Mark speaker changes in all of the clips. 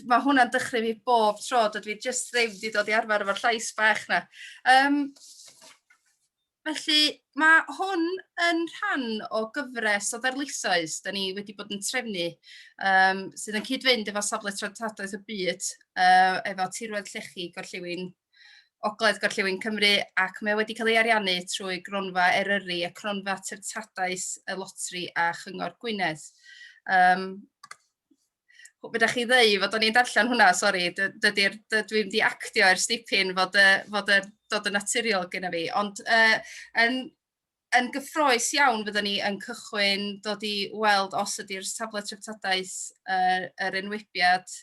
Speaker 1: Mae hwnna'n dychryn fi bob tro, dydw i jyst ddim wedi dod i arfer efo'r llais bach 'na. Um, felly, mae hwn yn rhan o gyfres o ddarlithoedd da ni wedi bod yn trefnu um, sydd yn cyd-fynd efo safle traddodiaeth y byd uh, efo tirwedd llechi gorllewin Ogledd Gorllewin Cymru ac mae o wedi cael ei ariannu trwy Gronfa Eryri, y Cronfa Treftadaeth y Lotri a Chyngor Gwynedd. Um, Bydda chi ddeu fod o'n i'n darllen hwnna, sori, dydy'r, dwi'n di actio i'r stipyn fod, y, fod y, dod yn naturiol gyda fi, ond uh, yn, yn gyffroes iawn fyddwn ni yn cychwyn dod i weld os ydy'r safle treftadaeth uh, yr enwebiad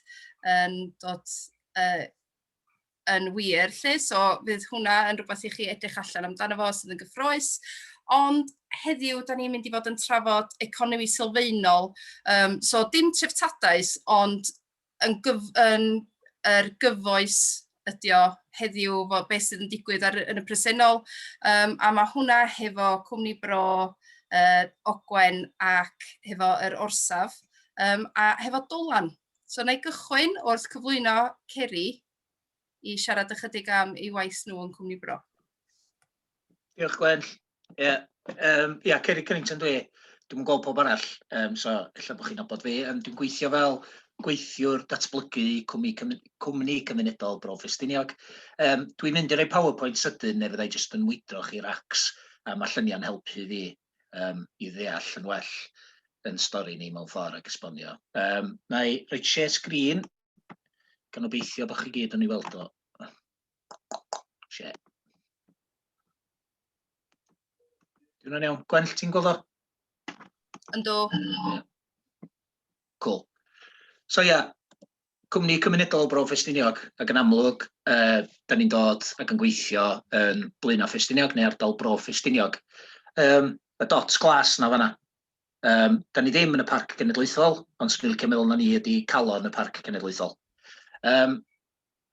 Speaker 1: yn dod uh, yn wir 'lly, so fydd hwnna yn rhywbeth i chi edrych allan amdano fo sydd yn gyffroes. Ond heddiw, da ni'n mynd i fod yn trafod economi sylfaenol, um, so dim treftadaeth, ond yn, gyf, yn er gyfoes ydy o heddiw, fo, beth sydd yn digwydd ar, yn y presennol, um, a mae hwnna hefo cwmni bro, uh, Ogwen ac hefo yr orsaf, um, a hefo Dolan. So na i gychwyn wrth cyflwyno Ceri i siarad ychydig am ei waith nhw yn Cwmni Bro.
Speaker 2: Diolch Gwen. Ie, yeah. um, yeah, Ceri Cunnington dwi. Dwi'n gweld pob arall, um, so efallai bod chi'n abod fi. Um, dwi'n gweithio fel gweithiwr datblygu cwmni, cwmni cymunedol Bro Ffestiniog. Um, dwi'n mynd i roi PowerPoint sydyn neu fyddai jyst yn mwydro chi racs a mae lluniau'n helpu fi um, i ddeall yn well yn stori ni mewn ffordd ac esbonio. Um, na i roi share screen, gan obeithio bod chi gyd yn ei weld o. Share. Dwi'n hwnna'n iawn. Gwenll, ti'n gweld o?
Speaker 1: Ynddo.
Speaker 2: Cool. So ia, yeah, Cwmni cymunedol Bro Ffestiniog ac yn amlwg dan ni'n dod ac yn gweithio yn Blaenau Ffestiniog neu ardal Bro Ffestiniog. Yym y dots glas 'na fan'na. Yym dan ni ddim yn y Parc Cenedlaethol ond 'swn i'n licio meddwl na ni ydi calon y Parc Cenedlaethol. Yym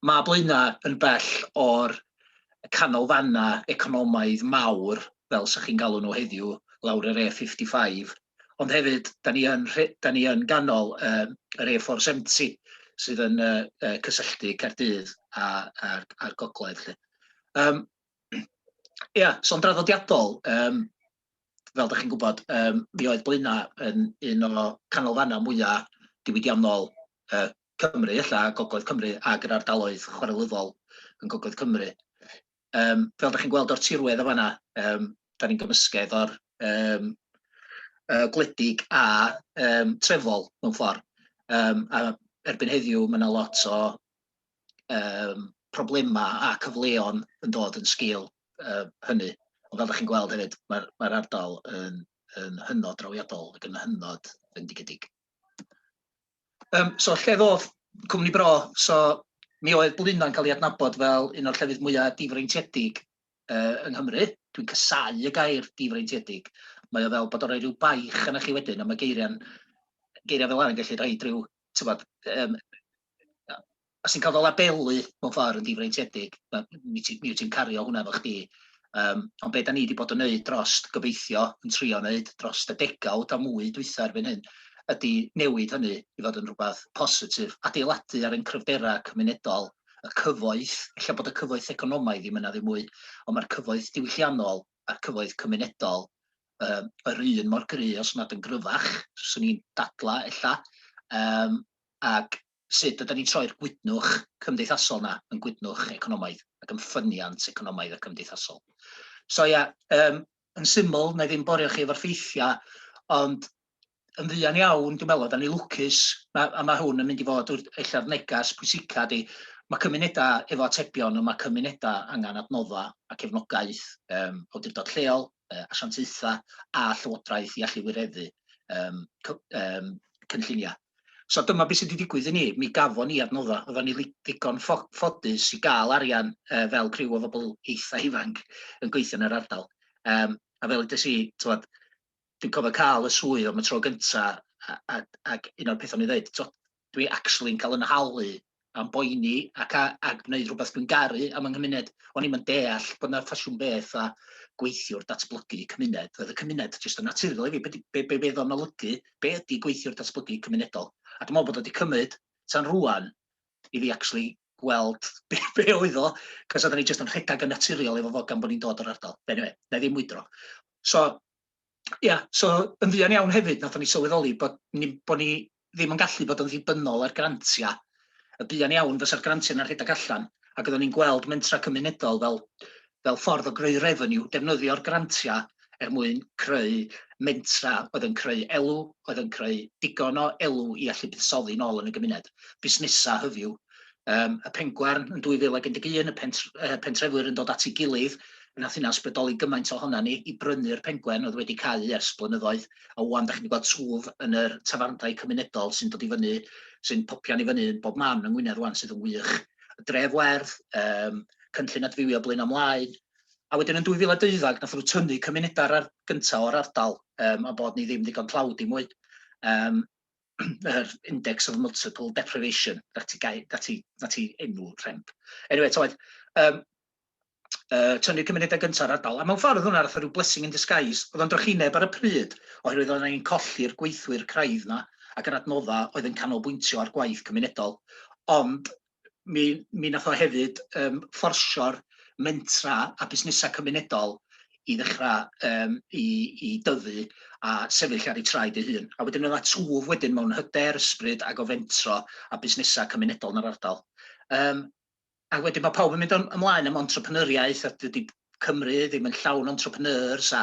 Speaker 2: ma' Blaenau yn bell o'r canolfannau economaidd mawr fel 'sa chi'n galw nhw heddiw lawr yr A55 Ond hefyd, da ni yn, da ni yn ganol uh, yr A470 sydd yn uh, uh, cysylltu Caerdydd a'r a, gogledd. Lle. Um, ia, so'n draddodiadol, um, fel da chi'n gwybod, um, mi oedd Blaena yn un o canolfannau mwyaf diwydiannol uh, Cymru, illa, Gogledd Cymru, ac yr ardaloedd chwarelyddol yn Gogledd Cymru. um, fel da chi'n gweld o'r tirwedd o fanna, um, da ni'n gymysgedd o'r um, uh, gwledig a um, trefol mewn ffordd. Um, a erbyn heddiw mae yna lot o um, problemau a cyfleon yn dod yn sgil uh, hynny. Ond fel da chi'n gweld hefyd, mae'r mae, r, ardal yn, yn hynod drawiadol ac yn hynod fendigedig. Yym so lle ddoth cwmni bro, so mi oedd Blaenau'n cael ei adnabod fel un o'r llefydd mwyaf difreintiedig uh, yng Nghymru. Dwi'n casau y gair difreintiedig. Mae o fel bod o'n rhoi rhyw baich yna chi wedyn, a mae geiriau'n geiriau fel arall yn gallu rhoi rhyw, tywod, um, a sy'n cael fy labelu mewn ffordd yn difreintiedig, mi ti'n cario hwnna efo chdi. Um, ond be da ni wedi bod yn wneud dros, gobeithio, yn trio wneud dros y degawd a mwy dwytha erbyn hyn, ydy newid hynny i fod yn rhywbeth positif, adeiladu ar ein cryfderau cymunedol, y cyfoeth, lle bod y cyfoeth economaidd ddim yna ddim mwy, ond mae'r cyfoeth diwylliannol a'r cyfoeth cymunedol um, yr un mor gry os nad yn gryfach, swn i'n dadla ella, um, ac sut ydan ni'n troi'r gwydnwch cymdeithasol 'na yn gwydnwch economaidd ac yn ffyniant economaidd a cymdeithasol. So ia, um, yn syml, na i ddim borio chi efo'r ffeithiau, ond yn fuan iawn, dwi'n meddwl, da ni lwcus, ma, a mae hwn yn mynd i fod ella'r negas pwysica di, mae cymunedau efo atebion, ond mae cymunedau angen adnoddau a cefnogaeth um, awdurdod lleol, asiantaethau a Llywodraeth i allu wireddu um, um, cynlluniau. So dyma beth sydd wedi digwydd i ni, mi gafon ni adnoddau, oedden ni ddigon ffodus i gael arian uh, fel criw o bobl eitha ifanc yn gweithio yn yr ardal. Um, a fel ydys i, tywed, dwi'n cofio cael y swydd am y tro gyntaf, ac un o'r pethau ni'n dweud, dwi actually yn cael yn nhalu am boeni ac a a gwneud rhywbeth dwi'n garu am yng nghymuned. O'n i'm yn deall bod 'na ffasiwn beth a gweithiwr datblygu cymuned. Roedd y cymuned jyst yn naturiol i fi, be' 'di be' be' be' o'n olygu, be' ydi gweithiwr datblygu cymunedol? A dwi'n meddwl bod o wedi cymryd tan rŵan i fi actually gweld be' be' oedd o, cos oedden ni jyst yn rhedeg yn naturiol efo fo gan bod ni'n dod o'r ardal. Eniwe, na i ddim mwydro. So, Ia, so yn fuan iawn hefyd nathon ni sylweddoli bod ni bod ni ddim yn gallu bod yn ddibynnol ar grantia. Y buan iawn fysa'r grantia yna'n rhedeg allan ac oedden ni'n gweld mentra cymunedol fel fel ffordd o greu revenue, defnyddio'r grantia er mwyn creu mentra oedd yn creu elw, oedd yn creu digon o elw i allu buddsoddi nôl yn y gymuned, busnesa hyfyw, Yym, y Pengwern yn 2011, y pentr- yy, pentrefwyr yn dod at ei gilydd, fe nath hynna ysbrydoli gymaint ohonan ni i brynu'r Pengwern oedd wedi cau ers blynyddoedd, a ŵan 'da chi'n gweld twf yn yr tafarndai cymunedol sy'n dod i fyny, sy'n popian i fyny yn bob man yng Ngwynedd ŵan sydd yn wych. Y Dref Werdd, yym, cynllun adfywio Blaenau Mlaen, a wedyn yn 2012 nathon nhw tynnu cymunedau'r ar- gynta' o'r ardal, yym, am bod ni ddim ddigon tlawd i mwy. Yym, yr index of multiple deprivation, na ti, gai, na ti, na ti enw rhemp. Anyway, toed, um, uh, tynnu cymunedau gyntaf ar ardal. A mewn ffordd hwnna, roedd rhyw blessing in disguise. Oedd o'n drychineb ar y pryd, oherwydd oedd ni'n colli'r gweithwyr craidd yna ac yr adnoddau oedd yn canolbwyntio ar gwaith cymunedol. Ond mi mi nath o hefyd yym fforsio'r mentra a busnesau cymunedol i ddechrau um, i, i dyfu a sefyll ar ei traed ei hun. A wedyn yna twf wedyn mewn hyder, ysbryd ac o fentro a busnesau cymunedol yn yr ardal. Um, a wedyn mae pawb yn mynd ymlaen am entrepreneuriaeth a dydy Cymru ddim yn llawn o entrepreneurs a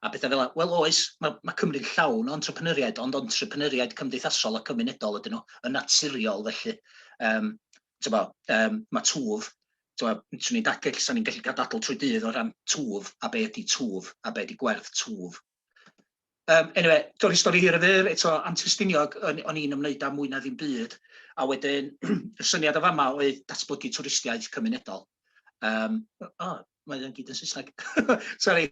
Speaker 2: a petha fel 'na. Wel oes, ma' ma' Cymru'n llawn o entrepreneuriaid, ond entrepreneuriaid cymdeithasol a cymunedol ydyn nhw, yn naturiol felly. Yym t'bo' yym ma' twf, t'bo' swn i'n da- ella 'san ni'n gallu cael dadl trwy dydd o ran twf a be' ydi twf a be' 'di gwerth twf. Um, anyway, dorri stori hir y fyr, eto antystiniog o'n i'n ymwneud â mwy na ddim byd, a wedyn y syniad o fama oedd datblygu twristiaeth cymunedol. Um, oh, mae o'n gyd yn Saesneg. Sorry,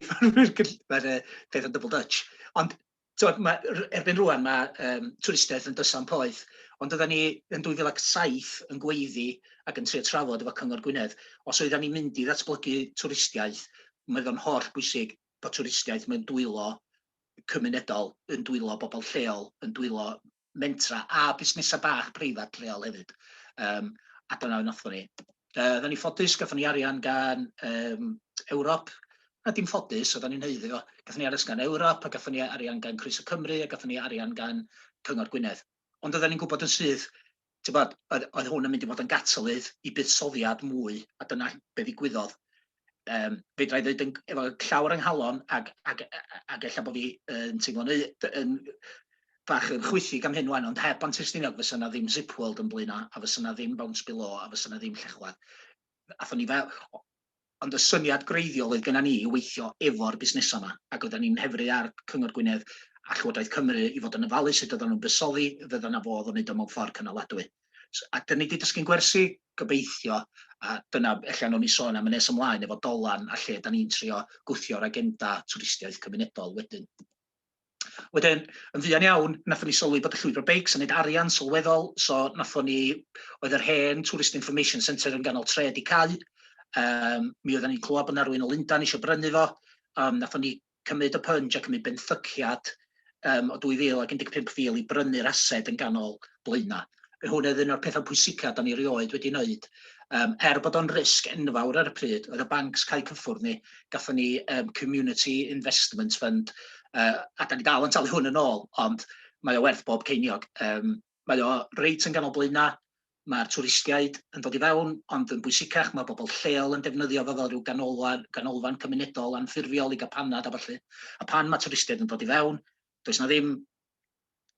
Speaker 2: mae'r peth yn double Dutch. Ond tywed, mae, erbyn rwan mae um, twristiaeth yn dysan poeth, ond oedden ni yn 2007 yn gweiddi ac yn trio trafod efo Cyngor Gwynedd, os oedden ni'n mynd i ddatblygu twristiaeth, mae o'n holl bwysig bod twristiaeth, mae'n dwylo cymunedol, yn dwylo bobl lleol, yn dwylo mentra a busnesau bach preifat lleol hefyd. Um, a dyna fe wnaethon ni. Uh, Oedden ni ffodus, gatho ni arian gan um, Ewrop, a dim ffodus, oedden ni'n heiddi o. Gatho ni arian gan Ewrop, a gatho ni arian gan Croeso Cymru, a gatho ni arian gan Cyngor Gwynedd. Ond oedden ni'n gwybod yn syth Tibod, oedd, oedd hwn yn mynd i fod yn gatalydd i buddsoddiad mwy, a dyna be ddigwyddodd. Um, fedra i ddweud yn, efo llawr yng nghalon, ac, ac, ac ella bod fi yn teimlo'n yn, bach yn chwythig am hyn wan, ond heb Antiwstiniog fysa yna ddim Zip World yn blaenau, a fysa yna ddim Bounce Below, a fysa yna ddim Llechwedd. Athon ni fel, Ond y syniad greiddiol oedd genna ni yw weithio efo'r busnesau 'ma, ac oeddan ni'n nhefru ar Cyngor Gwynedd a Llywodraeth Cymru i fod yn ofalu sut oeddan nhw'n buddsoddi, fydda 'na fodd o wneud o mewn ffordd cynaladwy. A 'dyn ni 'di dysgu'n gwersi, gobeithio, a dyna ella newn ni sôn am yn nes ymlaen efo Dolan a lle 'dan ni'n trio gwthio'r agenda twristiaeth cymunedol wedyn. Wedyn, yn fuan iawn, nathon ni sylwi bod y llwybr beics yn neud arian sylweddol, so nathon ni, oedd yr hen Tourist Information Centre yn ganol tre di cau, um, mi oedden ni'n clywed bod na rwy'n o Lundan eisiau brynu fo, um, nathon ni cymryd y pynj a cymryd benthyciad um, o 2015 fil i brynu'r ased yn ganol blaenau. Hwn oedd un o'r pethau pwysicaf da ni erioed wedi wneud. Um, er bod o'n risg enfawr ar y pryd, oedd y bancs cael cyffwrdd ni, gatho ni um, Community Investment Fund, uh, a da ni dal yn talu hwn yn ôl, ond mae o werth bob ceiniog. Um, mae o reit yn ganol blaenau, mae'r twristiaid yn dod i fewn, ond yn bwysicach mae bobl lleol yn defnyddio fo fel rhyw ganolfan, ganolfan cymunedol anffurfiol i gael panad a falle. A pan mae twristiaid yn dod i fewn, does na ddim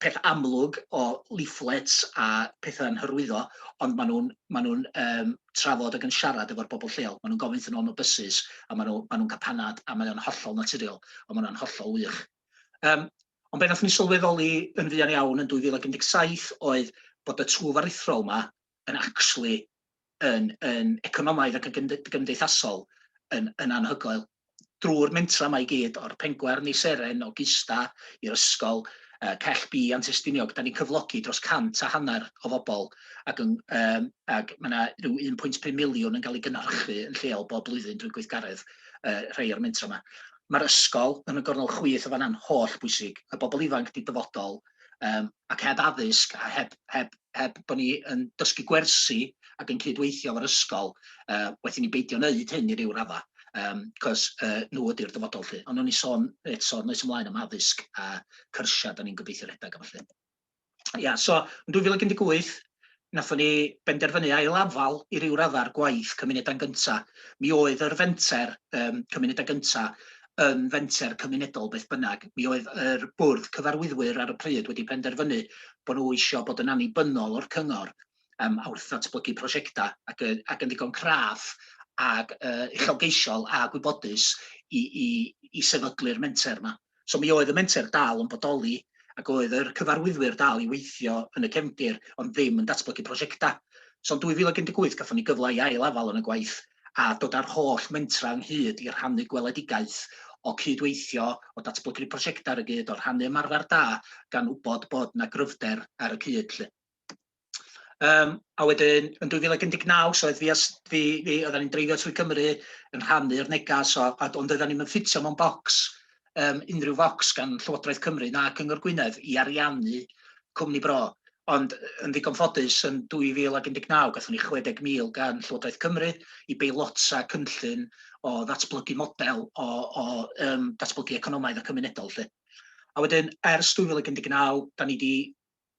Speaker 2: peth amlwg o leaflets a petha yn hyrwyddo, ond ma' nhw'n ma' nhw'n yym trafod ag yn siarad efo'r bobl lleol. Ma' nhw'n gofyn wrthyn nhw am y bysus a ma' nhw ma' nhw'n cael panad a mae o'n hollol naturiol a ma' hwnna'n hollol wych. Yym ond be' nathon ni sylweddoli yn fuan iawn yn 2017 oedd bod y twf aruthrol 'ma yn actually yn yn economaidd ac yn gymdeithasol yn yn anhygoel. Drwy'r mentra yma i gyd, o'r pengwern i seren, o Gista i'r ysgol, uh, Cell B a'n Testiniog, da ni'n cyflogi dros cant a hanner o fobl ac, yn, um, ac mae yna rhyw 1.5 miliwn yn cael ei gynhyrchu yn lleol bob blwyddyn drwy gweithgaredd uh, rhai o'r mentra yma. Mae'r ysgol yn y gornel chwith o fanna'n holl bwysig. Y bobl ifanc di dyfodol, um, ac heb addysg a heb, heb, heb bod ni yn dysgu gwersi ac yn cydweithio o'r ysgol, uh, wedi ni beidio wneud hyn i ryw radda, um, cos uh, nhw ydy'r dyfodol lle. Ond o'n i sôn eto, noes ymlaen am addysg a cyrsiau, da ni'n gobeithio rhedeg am felly. Ia, so yn 2018, Wnaethon ni benderfynu ail-afal i ryw raddau ar gwaith Cymunedau'n Gyntaf. Mi oedd yr fenter yym Cymunedau Gyntaf yn fenter cymunedol beth bynnag. Mi oedd yr bwrdd cyfarwyddwyr ar y pryd wedi penderfynu bod nhw eisiau bod yn annibynnol o'r cyngor yym a wrth ddatblygu prosiectau ac yn ac yn ddigon craff ac yy uchelgeisiol a gwybodus i i i sefydlu'r menter 'ma. So mi oedd y menter dal yn bodoli ac oedd yr cyfarwyddwyr dal i weithio yn y cefndir ond ddim yn datblygu prosiectau. So yn 2018 gafon ni gyfle i ail afal yn y gwaith a dod â'r holl mentrau ynghyd i rhannu gweledigaeth o cyd-weithio, o datblygu prosiectau ar y gyd, o rhannu ymarfer da gan wybod bod 'na gryfder ar y cyd 'lly. Um, a wedyn, yn 2019, so oedd fi, as, fi, fi oedden ni'n dreifio trwy Gymru yn rhannu'r negas, so, a, ond oedden ni'n ffitio mewn bocs, um, unrhyw focs gan Llywodraeth Cymru na Cyngor Gwynedd i ariannu cwmni bro. Ond yn ddigon ffodus, yn 2019, gatho ni 60,000 gan Llywodraeth Cymru i beilota cynllun o ddatblygu model o, o um, datblygu economaidd a cymunedol. Lle. A wedyn, ers 2019, da ni wedi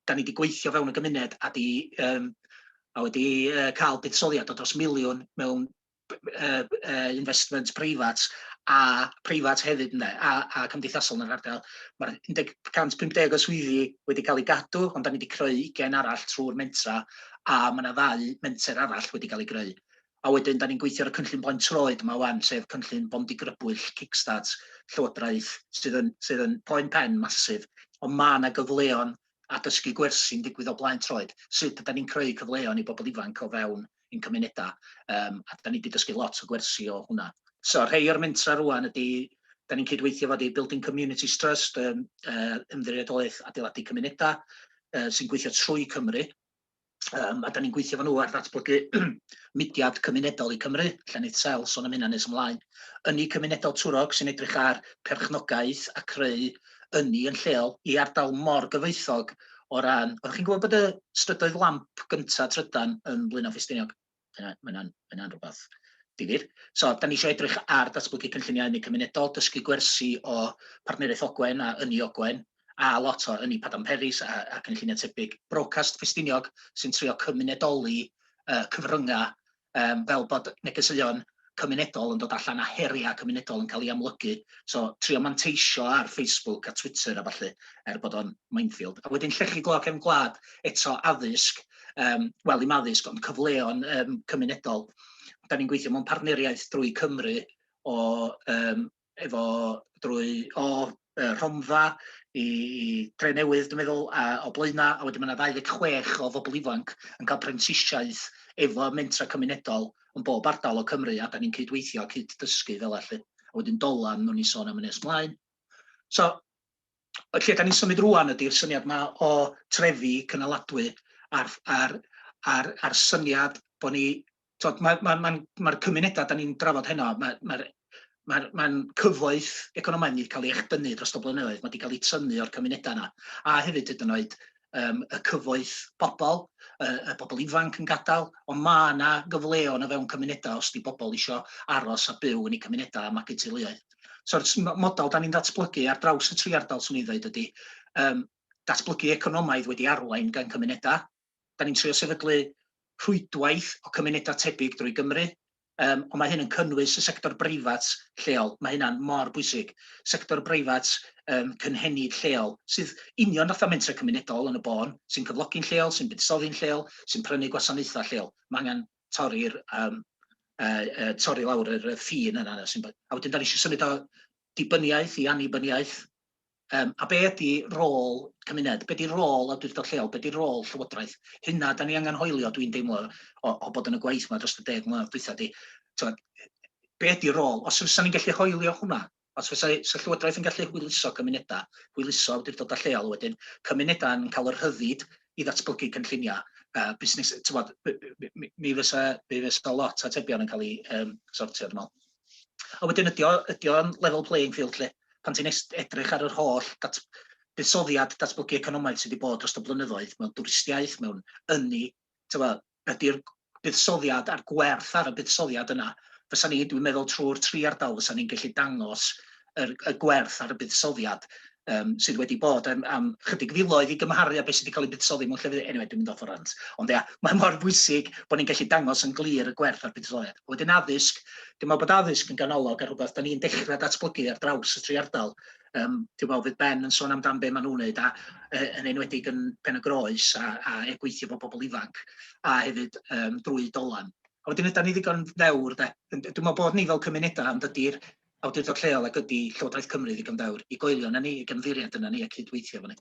Speaker 2: 'da ni 'di gweithio fewn y gymuned a 'di yym a wedi yy ca'l buddsoddiad o dros miliwn mewn yy yy investment preifat a preifat hefyd ynde a a cymdeithasol yn yr ardal. Ma'r 150 o swyddi wedi cael eu gadw ond 'da ni wedi creu ugain arall trwy'r mentra a ma' 'na ddau menter arall wedi cael ei greu. A wedyn 'dan ni'n gweithio ar y cynllun Blaen Troed 'ma ŵan, sef cynllun Bont i Grybwyll, kickstart Llywodraeth, sydd yn sydd yn poen pen massive, ond ma' 'na gyfleon a dysgu gwersi'n digwydd o Blaen Troed, sut ydan ni'n creu cyfleon i bobl ifanc o fewn ein cymuneda, yym a 'dan ni 'di dysgu lot o gwersi o hwnna. So rhei o'r mentra rŵan ydi, 'dan ni'n cydweithio efo The Building Communities Trust, yym yy Ymddiriedolaeth Adeiladu Cymunedau, yy sy'n gweithio trwy Cymru, Um, a da ni'n gweithio fan nhw ar ddatblygu mudiad cymunedol i Cymru, lle wneud sel son am hynna nes ymlaen. Ynni cymunedol Twrog sy'n edrych ar perchnogaeth a creu ynni yn lleol i ardal mor gyfoethog o ran... Oeddech chi'n gwybod bod y strydoedd lamp gyntaf trydan yn Blaenau Ffestiniog? Dyna, mae hynna'n, mae hynna'n rhywbeth difyr. So, da ni eisiau edrych ar datblygu cynlluniau ynni cymunedol, dysgu gwersi o Partneriaeth Ogwen a Ynni Ogwen, a lot o Ynni Padarn Peris a, a cynlluniau tebyg. Brocast Ffestiniog sy'n trio cymunedoli uh, cyfryngau um, fel bod negeseuon cymunedol yn dod allan a heriau cymunedol yn cael ei amlygu, so trio manteisio ar Facebook a Twitter a ballu er bod o'n minefield. A wedyn llechi glo cefn gwlad eto addysg, um, wel i'm addysg ond cyfleon um, cymunedol. Da ni'n gweithio mewn partneriaeth drwy Cymru o um, efo drwy o yy Rhondda i i Drenewydd dwi'n meddwl a o Blaena a wedyn ma' 'na 26 o bobl ifanc yn ca'l prentisiaeth efo mentra cymunedol yn bob ardal o Cymru a 'dan ni'n cydweithio a cyd-dysgu fela lly. A wedyn Dolan newn ni sôn am y nes mlaen. So y lle dan ni'n symud rwan ydy'r syniad yma o trefi cynaladwy a'r, a'r, a'r, a'r syniad bod ni, tod, mae'r ma, ma, ma, ma cymunedau dan ni'n drafod heno, mae'r ma, ma, ma cyfoeth economaidd wedi cael ei echdynnu dros y blynyddoedd, mae wedi cael ei tynnu o'r cymunedau yna, a hefyd hyd yn oed um, y cyfoeth pobl, y, y bobl ifanc yn gadael, ond mae yna gyfleon o fewn cymunedau os di bobl eisiau aros a byw yn eu cymunedau a magu teuluoedd. So'r model da ni'n datblygu ar draws y tri ardal swn i ddweud ydy um, datblygu economaidd wedi arwain gan cymunedau. Da ni'n trio sefydlu rhwydwaith o cymunedau tebyg drwy Gymru, Yym, ond mae hyn yn cynnwys y sector breifat lleol, mae hynna'n mor bwysig, sector breifat um, cynhenid lleol, sydd union fatha mentrau cymunedol yn y bôn, sy'n cyflogi'n lleol, sy'n buddsoddi'n lleol, sy'n prynu gwasanaethau lleol. Mae angen torri'r um, uh, uh, torri lawr yr ffin yna. A wedyn da ni eisiau symud o dibyniaeth i annibyniaeth, Yym, a be ydi rôl cymuned? Be di rôl awdurdod lleol? Be di rôl llywodraeth? Hynna da ni angen hoelio, dwi'n deimlo, o, o bod yn y gwaith yma dros y deg mlynedd dwytha di. Tywed, be ydi rôl? Os fysa ni'n gallu hoelio hwnna, os fysa so llywodraeth yn gallu hwyluso cymunedau, hwyluso awdurdodau lleol wedyn, cymunedau yn cael yr rhyddid i ddatblygu cynlluniau, uh, busnes, tywed, mi fysa, mi fysa lot atebion yn cael ei um, sortio, dwi'n meddwl. A wedyn ydy o, ydy o'n level playing field lle? Pan ti'n edrych ar yr holl dat, buddsoddiad datblygu economaidd sydd wedi bod dros y blynyddoedd mewn dwristiaeth, mewn ynni, ydy'r buddsoddiad a'r gwerth ar y buddsoddiad yna, fysa ni, dwi'n meddwl trwy'r tri ardal fysa ni'n gallu dangos yr y gwerth ar y buddsoddiad um, sydd wedi bod am, am chydig filoedd i gymharu â beth sydd wedi cael ei buddsoddi mewn llefydd, anyway, dwi'n mynd off o rant. Ond ia, mae mor bwysig bod ni'n gallu dangos yn glir y gwerth ar buddsoddiad. Wedyn addysg, dwi'n meddwl bod addysg yn ganolog ar rhywbeth da ni'n dechrau datblygu ar draws y tri ardal. Um, dwi'n meddwl fydd Ben yn sôn amdan be maen nhw'n neud, a, e, yn enwedig yn Pen y Groes, a, a e gweithio bod pobl ifanc, a hefyd um, drwy dolan. A wedyn ydy ni ddigon ddewr, de. Dwi'n meddwl bod ni fel cymunedau, ond ydy'r awdurdod lleol ag ydi Llywodraeth Cymru ddigon dewr i goelio yna ni, i gymddiried yna ni a cyd-weithio efo ni.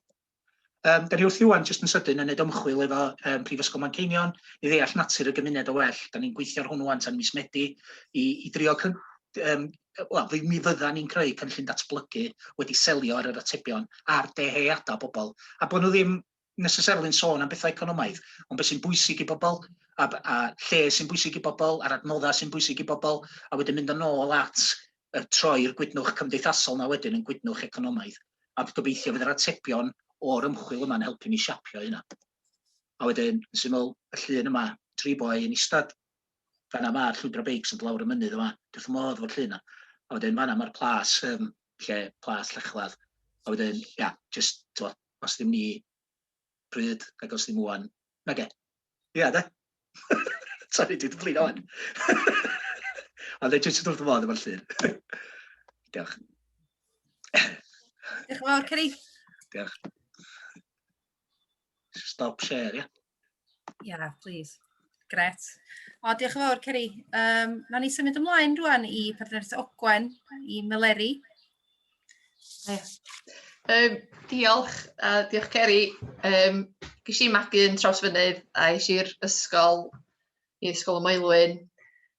Speaker 2: Yym, da ni wrthi ŵan, jyst yn sydyn, yn neud ymchwil efo um, Prifysgol Manceinion i ddeall natur y gymuned o well. Da ni'n gweithio ar hwn ŵan tan mis Medi i, i drio um, wel, fi, mi fydda ni'n creu cynllun datblygu wedi selio ar yr atebion a'r deheuadau bobl. A bod nhw ddim necessarily yn sôn am bethau economaidd, ond beth sy'n bwysig i bobl, a, a lle sy'n bwysig i bobl, a'r adnoddau sy'n bwysig i bobl, a wedyn mynd yn ôl at y troi'r gwydnwch cymdeithasol na wedyn yn gwydnwch economaidd. A gobeithio fydd yr atebion o'r ymchwil yma'n helpu ni siapio hynna. A wedyn, yn syml, y llun yma, tri boi yn eistedd, fanna mae'r llwybr o beics yn dod lawr y mynydd yma, dwi'n modd fo'r llun yna. A wedyn fanna mae'r plas, um, lle plas llechlad. A wedyn, ia, yeah, just, Os ddim ni, pryd, ac os ddim ŵan, nage? Ia, de? Sori, dwi 'di blino ŵan. Ond dwi jyst wrth fy modd efo'r llun. Diolch.
Speaker 1: Diolch yn fawr, Ceri. Diolch.
Speaker 2: Stop share, ia? Ia, yeah,
Speaker 1: please. Gret. O, diolch yn fawr, Ceri. Um, na ni symud ymlaen rwan i partneriaeth Ogwen, i Meleri.
Speaker 3: Um, diolch, uh, diolch Ceri. Um, Gys i magu yn traws fynydd a eis i'r ysgol, i ysgol y Moelwyn.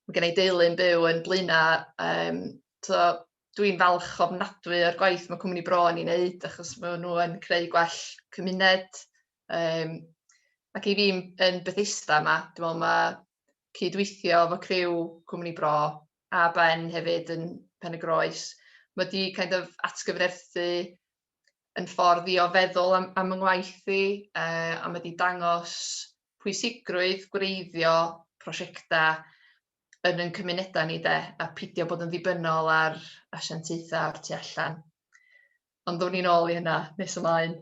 Speaker 3: Mae gen i deulu'n byw yn Blaena. Um, so, Dwi'n falch ofnadwy o'r gwaith mae cwmni Bro yn ei wneud achos maen nhw yn creu gwell cymuned Yym, ac i fi yn Bethesda 'ma, dwi'n meddwl mae cydweithio efo criw Cwmni Bro a Ben hefyd yn Pen y Groes, mae wedi kind of atgyfnerthu yn ffordd i o feddwl am, am yng ngwaith i, uh, a mae wedi dangos pwysigrwydd gwreiddio prosiectau yn yn cymunedau ni de, a pidio bod yn ddibynnol ar asiantaethau o'r tu allan. ond ddown ni'n ôl i hynna nes ymlaen.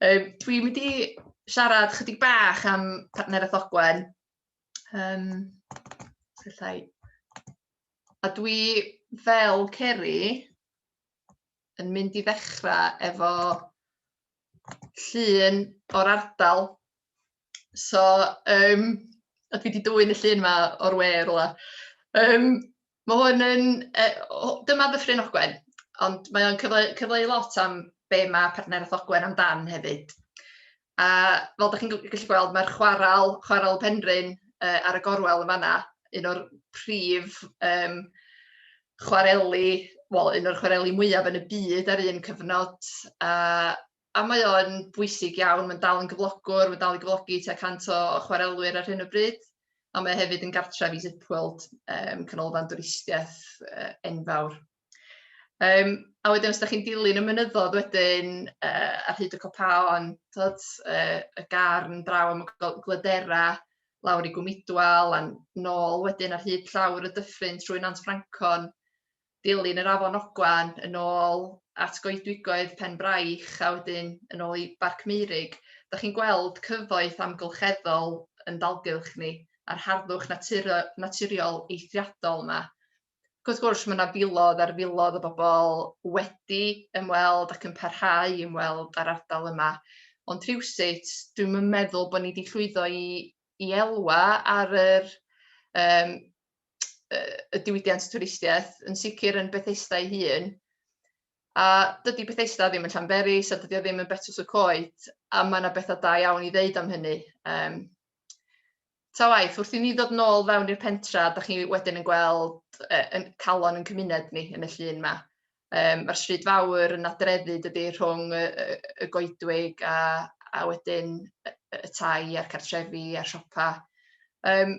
Speaker 3: Um, dwi'n mynd i siarad chydig bach am partneraeth Ogwen. Um, Sellai. A dwi fel Ceri yn mynd i ddechrau efo llun o'r ardal. So, um, a dwi wedi dwy'n y llun yma o'r we rwla. Um, Mae hwn yn... yy o- dyma Ddyffryn Ogwen, ond mae o'n cyfle- cyfleu lot am be mae Partneriaeth Ogwen amdan hefyd. A fel dach chi'n g- gallu gweld mae'r chwarel, Chwarel y Penrhyn yy ar y gorwel yn fan'na, un o'r prif yym chwareli, wel un o'r chwareli mwyaf yn y byd ar un cyfnod a a mae o'n bwysig iawn, mae'n dal yn gyflogwr, mae'n dal i gyflogi tua 100 o chwarelwyr ar hyn o bryd, a mae hefyd yn gartref i Zipworld, um, canolfan dwristiaeth uh, enfawr. Um, a wedyn os da chi'n dilyn y mynyddodd wedyn uh, ar hyd y copaon, tod, uh, y garn draw am y glydera, lawr i Gwmidwal, a'n nôl wedyn ar hyd llawr y dyffryn trwy Nant Ffrancon, dilyn yr Afon Ogwen yn ôl at goedwigoedd Penbraich a wedyn yn ôl i Barc Meurig, dach chi'n gweld cyfoeth amgylcheddol yn dalgylch ni a'r harddwch natur- naturiol eithriadol 'ma. Ac wrth gwrs mae 'na filoedd ar filoedd o bobl wedi ymweld ac yn parhau i ymweld â'r ardal yma ond rhywsut dwi'm yn meddwl bod ni 'di llwyddo i i elwa ar yr yym y diwydiant twristiaeth, yn sicr yn Bethesda ei hun. A dydy Bethesda ddim yn Llanberis, a dydy o ddim yn Betws y Coed, a mae yna bethau da iawn i ddeud am hynny. Um, ta waith, wrth i ni ddod nôl fewn i'r pentra, da chi wedyn yn gweld e, yn calon yn cymuned ni yn y llun yma. Um, Mae'r stryd fawr yn adreddu dydy rhwng y, y, y goedwig a, a wedyn y, y tai a'r cartrefi a'r siopa. Um,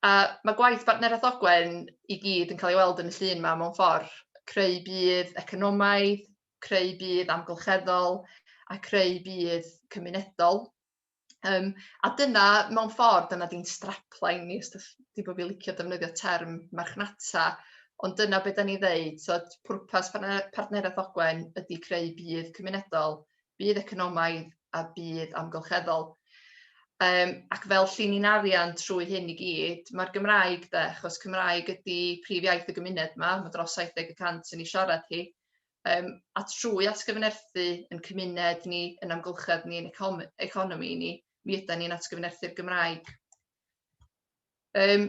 Speaker 3: A ma' gwaith Bartneriaeth Ogwen i gyd yn cael ei weld yn y llun 'ma mewn ffor', creu budd economaidd, creu budd amgylcheddol a creu budd cymunedol yym a dyna mewn ffor' dyna di'n strapline ni os dach chi bo' fi'n licio defnyddio term marchnata ond dyna be' 'dan ni'n ddeud t'od pwrpas Partneriaeth Ogwen ydi creu budd cymunedol budd economaidd a budd amgylcheddol. Um, ac fel llinyn arian trwy hyn i gyd, mae'r Gymraeg de, achos Cymraeg ydy prif iaith y gymuned yma, mae dros 70% yn ei siarad hi, um, a trwy atgyfnerthu yn cymuned ni, yn amgylchedd ni, yn economi ni, mi ydy ni'n atgyfnerthu'r Gymraeg. Um,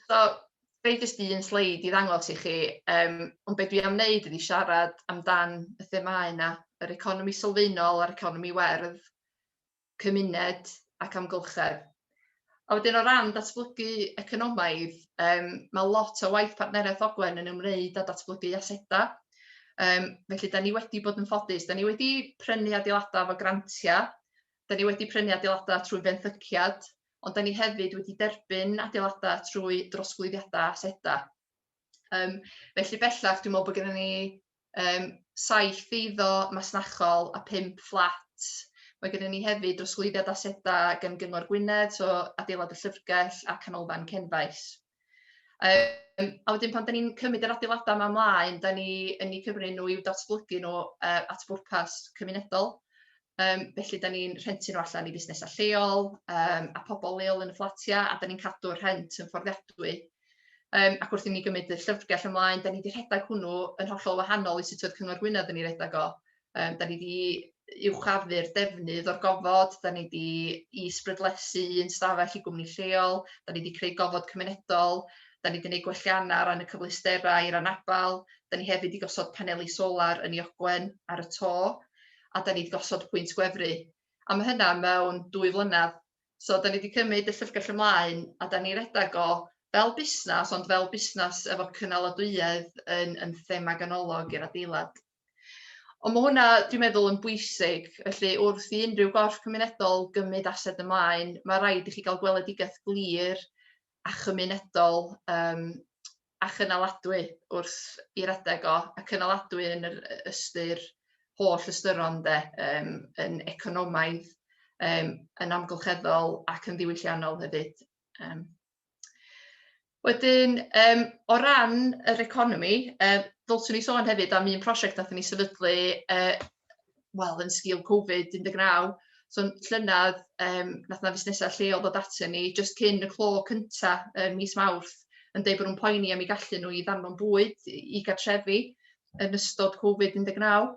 Speaker 3: So, gai jyst un sleid i ddangos i chi, um, ond beth dwi am wneud ydi siarad amdan y themau yna, yr economi sylfaenol a'r economi werdd, cymuned ac amgylchedd. A wedyn o ran datblygu economaidd, um, mae lot o waith partneriaeth Ogwen yn ymwneud â datblygu asedau. Um, felly, da ni wedi bod yn ffodus. Da ni wedi prynu adeiladau efo grantiau. Da ni wedi prynu adeiladau trwy fenthyciad. ond 'da ni hefyd wedi derbyn adeilada' trwy drosglwyddiada' aseda'. Yym felly bellach dwi'n meddwl bod gennym ni um, saith eiddo masnachol a pump fflat. Mae gennym ni hefyd drosglwyddiad asedau gan Gyngor Gwynedd, so adeilad y llyfrgell a canolfan Cenfaes. Um, a wedyn pan da ni'n cymryd yr adeiladau yma ymlaen, da ni yn ei cyfri nhw i'w datblygu nhw uh, at bwrpas cymunedol. Um, felly, da ni'n rhentu nhw allan i fusnesau lleol um, a pobl leol yn y fflatiau, a da ni'n cadw'r rhent yn fforddiadwy. Um, ac wrth i ni gymryd y llyfrgell ymlaen, da ni wedi rhedeg hwnnw yn hollol wahanol i sut oedd Cyngor Gwynedd yn ei redeg o. Yym da ni 'di uwchafu'r defnydd o'r gofod, da ni 'di is-brydlesu un stafell i gwmni lleol, da ni 'di creu gofod cymunedol, da ni 'di neud gwellianna ar ran y cyfleusterau i'r anabal, da ni hefyd 'di gosod paneli solar yn 'i ogwen ar y to, a da ni 'di gosod pwynt gwefru. A ma' hynna mewn dwy flynadd. So da ni 'di cymyd y llyfrgell ymlaen a da ni redag o fel busnas ond fel busnas efo cynaladwyedd yn yn thema ganolog i'r adeilad. Ond mae hwnna, dwi'n meddwl, yn bwysig. Felly, wrth i unrhyw gorff cymunedol gymryd ased ymlaen, mae rhaid i chi gael gweledigaeth glir a chymunedol um, a chynaladwy wrth i'r adeg o, a cynaladwy yn yr ystyr holl ystyron de, um, yn economaidd, um, yn amgylcheddol ac yn ddiwylliannol hefyd. Um, Wedyn, um, o ran yr economi, uh, ddylswn ni sôn hefyd am un prosiect nath ni sefydlu, uh, wel, yn sgil Covid-19, so llynedd, um, nath na fusnesau lleol ddod atyn ni, just cyn y clo cynta um, mis mawrth, yn dweud bod nhw'n poeni am ei gallu nhw i ddanfon bwyd i gartrefi yn ystod Covid-19.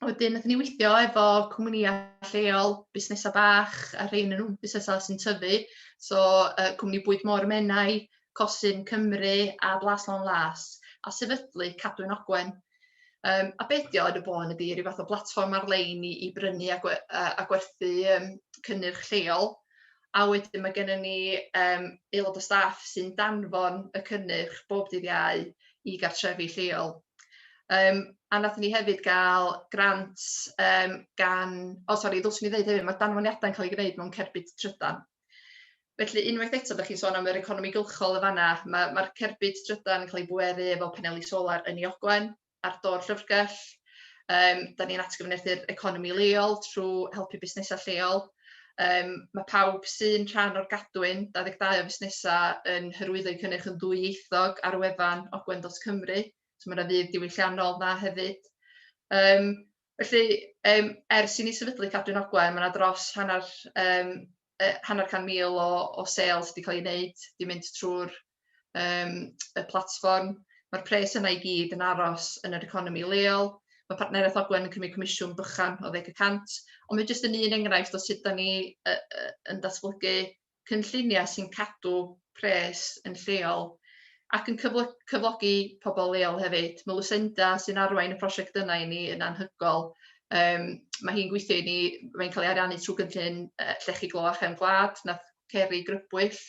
Speaker 3: wedyn nathon ni weithio efo cwmnïa lleol, busnesa' bach a rhein yn busnesa' sy'n tyfu so yy cwmni bwyd môr y Menai, Cosyn Cymru a Blas Lôn Las a sefydlu Cadwyn Ogwen. Yym a be' 'di o yn y bôn ydi ryw fath o blatfform ar-lein i i brynu a gwe- yy a gwerthu yym cynnyrch lleol. a wedyn mae gennym ni um, aelod o staff sy'n danfon y cynnyrch bob dydd iau i gartrefi lleol. Um, a nath ni hefyd gael grant um, gan... O, sori, ddylswn i ddeud hefyd, mae danfoniadau'n cael ei gwneud mewn cerbyd trydan. Felly, unwaith eto, ydych chi'n sôn am yr economi gylchol y fanna, mae'r ma cerbyd trydan yn cael ei bweru efo paneli solar yn ei ogwen, ar do'r llyfrgell. Um, da ni'n atgyfnerthu'r economi leol trwy helpu busnesau lleol. Um, mae pawb sy'n rhan o'r gadwyn 22 o fusnesau yn hyrwyddo cynnyrch yn ddwyieithog ar wefan ogwen.cymru. So mae yna fydd diwylliannol na hefyd. Um, felly, um, ers i ni sefydlu Cadwyn Ogwen, mae yna dros hanner um, yy hanner can mil o o sales 'di ca'l 'i neud 'di mynd trw'r yym y platfform. Ma'r pres yna i gyd yn aros yn yr economi leol. Mae partneriaeth Ogwen yn cymryd comisiwn bychan o ddeg y cant, ond mae jyst yn un enghraifft o sut 'dan ni yy yy yn datblygu cynlluniau sy'n cadw pres yn lleol ac yn cyflogi pobl leol hefyd. Mae Lucinda sy'n arwain y prosiect yna i ni yn anhygoel. Um, mae hi'n gweithio i ni, mae'n cael ei ariannu trwy gynllun uh, llechi glo a chefn gwlad, na ceri grybwyll.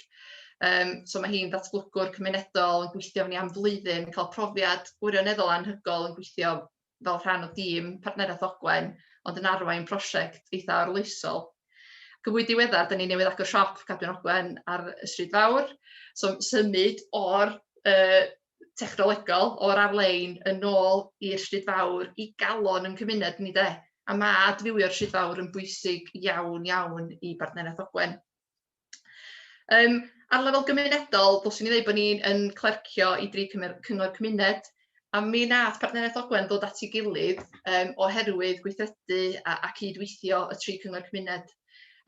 Speaker 3: Um, so mae hi'n ddatblygwr cymunedol yn gweithio ni am flwyddyn, cael profiad gwirioneddol anhygoel yn gweithio fel rhan o dîm Partneriaeth Ogwen, ond yn arwain prosiect eitha' arloesol. Ac yn fwy diweddar, 'dyn ni newydd agor siop Cadwyn Ogwen ar y Stryd Fawr, so symud o'r yy technolegol, o'r ar-lein yn ôl i'r Stryd Fawr i galon yn cymuned ni 'de? A ma' adfywio'r Stryd Fawr yn bwysig iawn iawn i Bartneriaeth Ogwen. Yym ar lefel gymunedol, ddylswn i ddweud bod ni'n yn clercio i dri cymer- cyngor cymuned, a mi wnaeth Partneriaeth Ogwen ddod at ei gilydd um, oherwydd gweithredu a, a cydweithio y tri cyngor cymuned.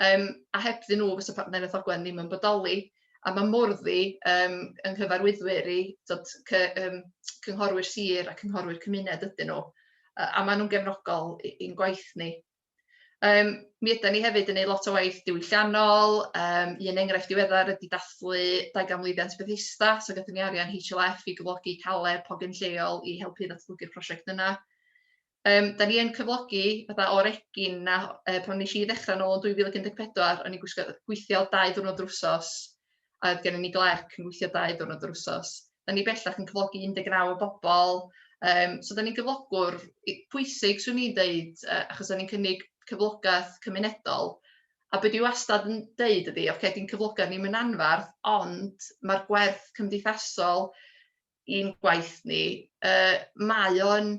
Speaker 3: Um, a heb ddyn nhw fysa Partneriaeth Ogwen ddim yn bodoli, a mae Mordddi um, yng nghyfarwyddwyr i dod, cy, um, cynghorwyr sir a cynghorwyr cymuned ydyn nhw, a, a maen nhw'n gefnogol i'n gwaith ni. Um, mi ydy ni hefyd yn gwneud lot o waith diwylliannol, um, un enghraifft diweddar ydy dathlu 20 mlwyddiant Bethesda, so gyda ni arian HLF i gyflogi caled hogyn lleol i helpu ddatblygu'r prosiect yna. Um, da ni yn cyflogi fatha o'r egin na uh, pan nes i ddechrau nôl yn 2014, o'n i'n gweithio dau ddwrnod drwsos a oedd gennym ni glerc yn gweithio dau ddiwrnod yr wsos. Da ni bellach yn cyflogi 19 o bobl, um, so da ni'n gyflogwr pwysig, swn i'n deud, uh, achos da ni'n cynnig cyflogaeth cymunedol. A beth dwi wastad yn deud ydy, oce, okay, di'n cyflogaeth ni'n mynd anfarth, ond mae'r gwerth cymdeithasol i'n gwaith ni, uh, mae o'n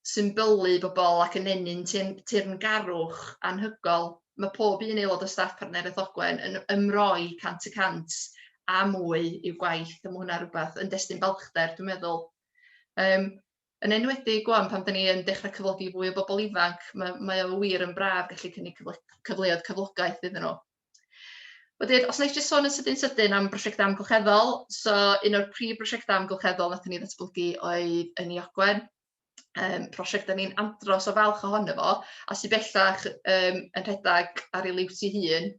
Speaker 3: symbylu bobl ac yn ennyn teyrngarwch anhygoel. Mae pob un aelod o staff Partneriaeth Ogwen yn ymroi cant y cant a mwy i'w gwaith, a mae hwnna rhywbeth yn destun balchder, dwi'n meddwl. Um, yn enwedig gwan pan dyn ni yn dechrau cyflogi fwy o bobl ifanc, mae, mae o wir yn braf gallu cynnig cyfle, cyfleoedd cyflogaeth iddyn nhw. Wedyn, os wna i jyst sôn yn sydyn sydyn am brosiectau amgylcheddol, so un o'r prif brosiectau amgylcheddol wnaethon ni ddatblygu oedd yn ei ogwen, um, prosiect da ni'n andros o falch ohono fo, a sy'n bellach um, yn rhedeg ar ei liwt ei hun,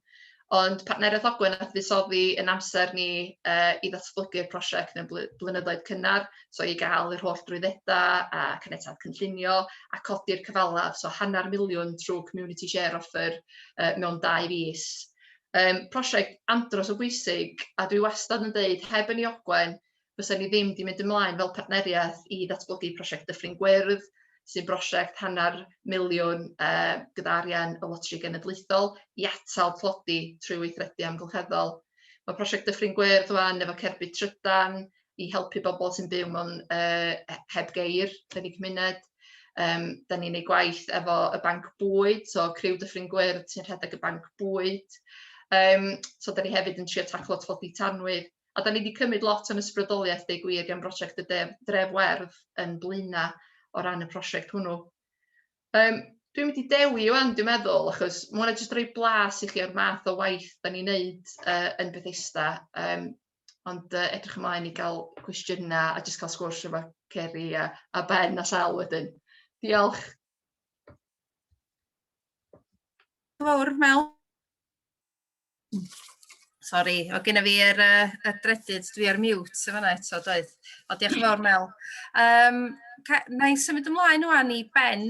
Speaker 3: ond partneriaeth ogwen a fuddsoddi yn amser ni uh, i ddatblygu'r prosiect mewn blynyddoedd cynnar, So i gael yr holl drwyddedau a caniatâd cynllunio a codi'r cyfalaf, so hanner miliwn trwy community share offer uh, mewn dau fus. Um, prosiect andros o bwysig a dwi wastad yn dweud heb yn ei ogwen fysa ni ddim wedi mynd ymlaen fel partneriaeth i ddatblygu prosiect Dyffryn Gwyrdd sy'n brosiect hanner miliwn uh, gyda arian y Lotri Genedlaethol i atal tlodi trwy weithredu amgylcheddol. Mae prosiect Dyffryn Gwyrdd rwan efo cerbyd trydan, i helpu bobl sy'n byw mewn uh, heb geir yn eu cymuned. Um, da ni'n ei gwaith efo y banc bwyd, so criw Dyffryn Gwyrdd sy'n rhedeg y banc bwyd. Um, so da ni hefyd yn trio taclo tlodi tanwydd. A da ni wedi cymryd lot o'n ysbrydoliaeth deu gwir gan brosiect y Dref, Dref Werdd yn Blaena o ran y prosiect hwnnw. Um, dwi'n mynd i dewi o'n dwi'n meddwl, achos mae hwnna jyst rhoi blas i chi o'r math o waith da ni'n neud uh, yn Bethesda. Um, Ond uh, edrych ymlaen i gael cwestiynau a jyst cael sgwrs efo Ceri a, a Ben a Sel wedyn. Diolch.
Speaker 1: Fawr, Mel. Sori, o gyda fi yr, uh, y dredyd, dwi ar mute yn fanna eto, doedd. O, diolch yn fawr, Mel. Um, na i symud ymlaen o'n i Ben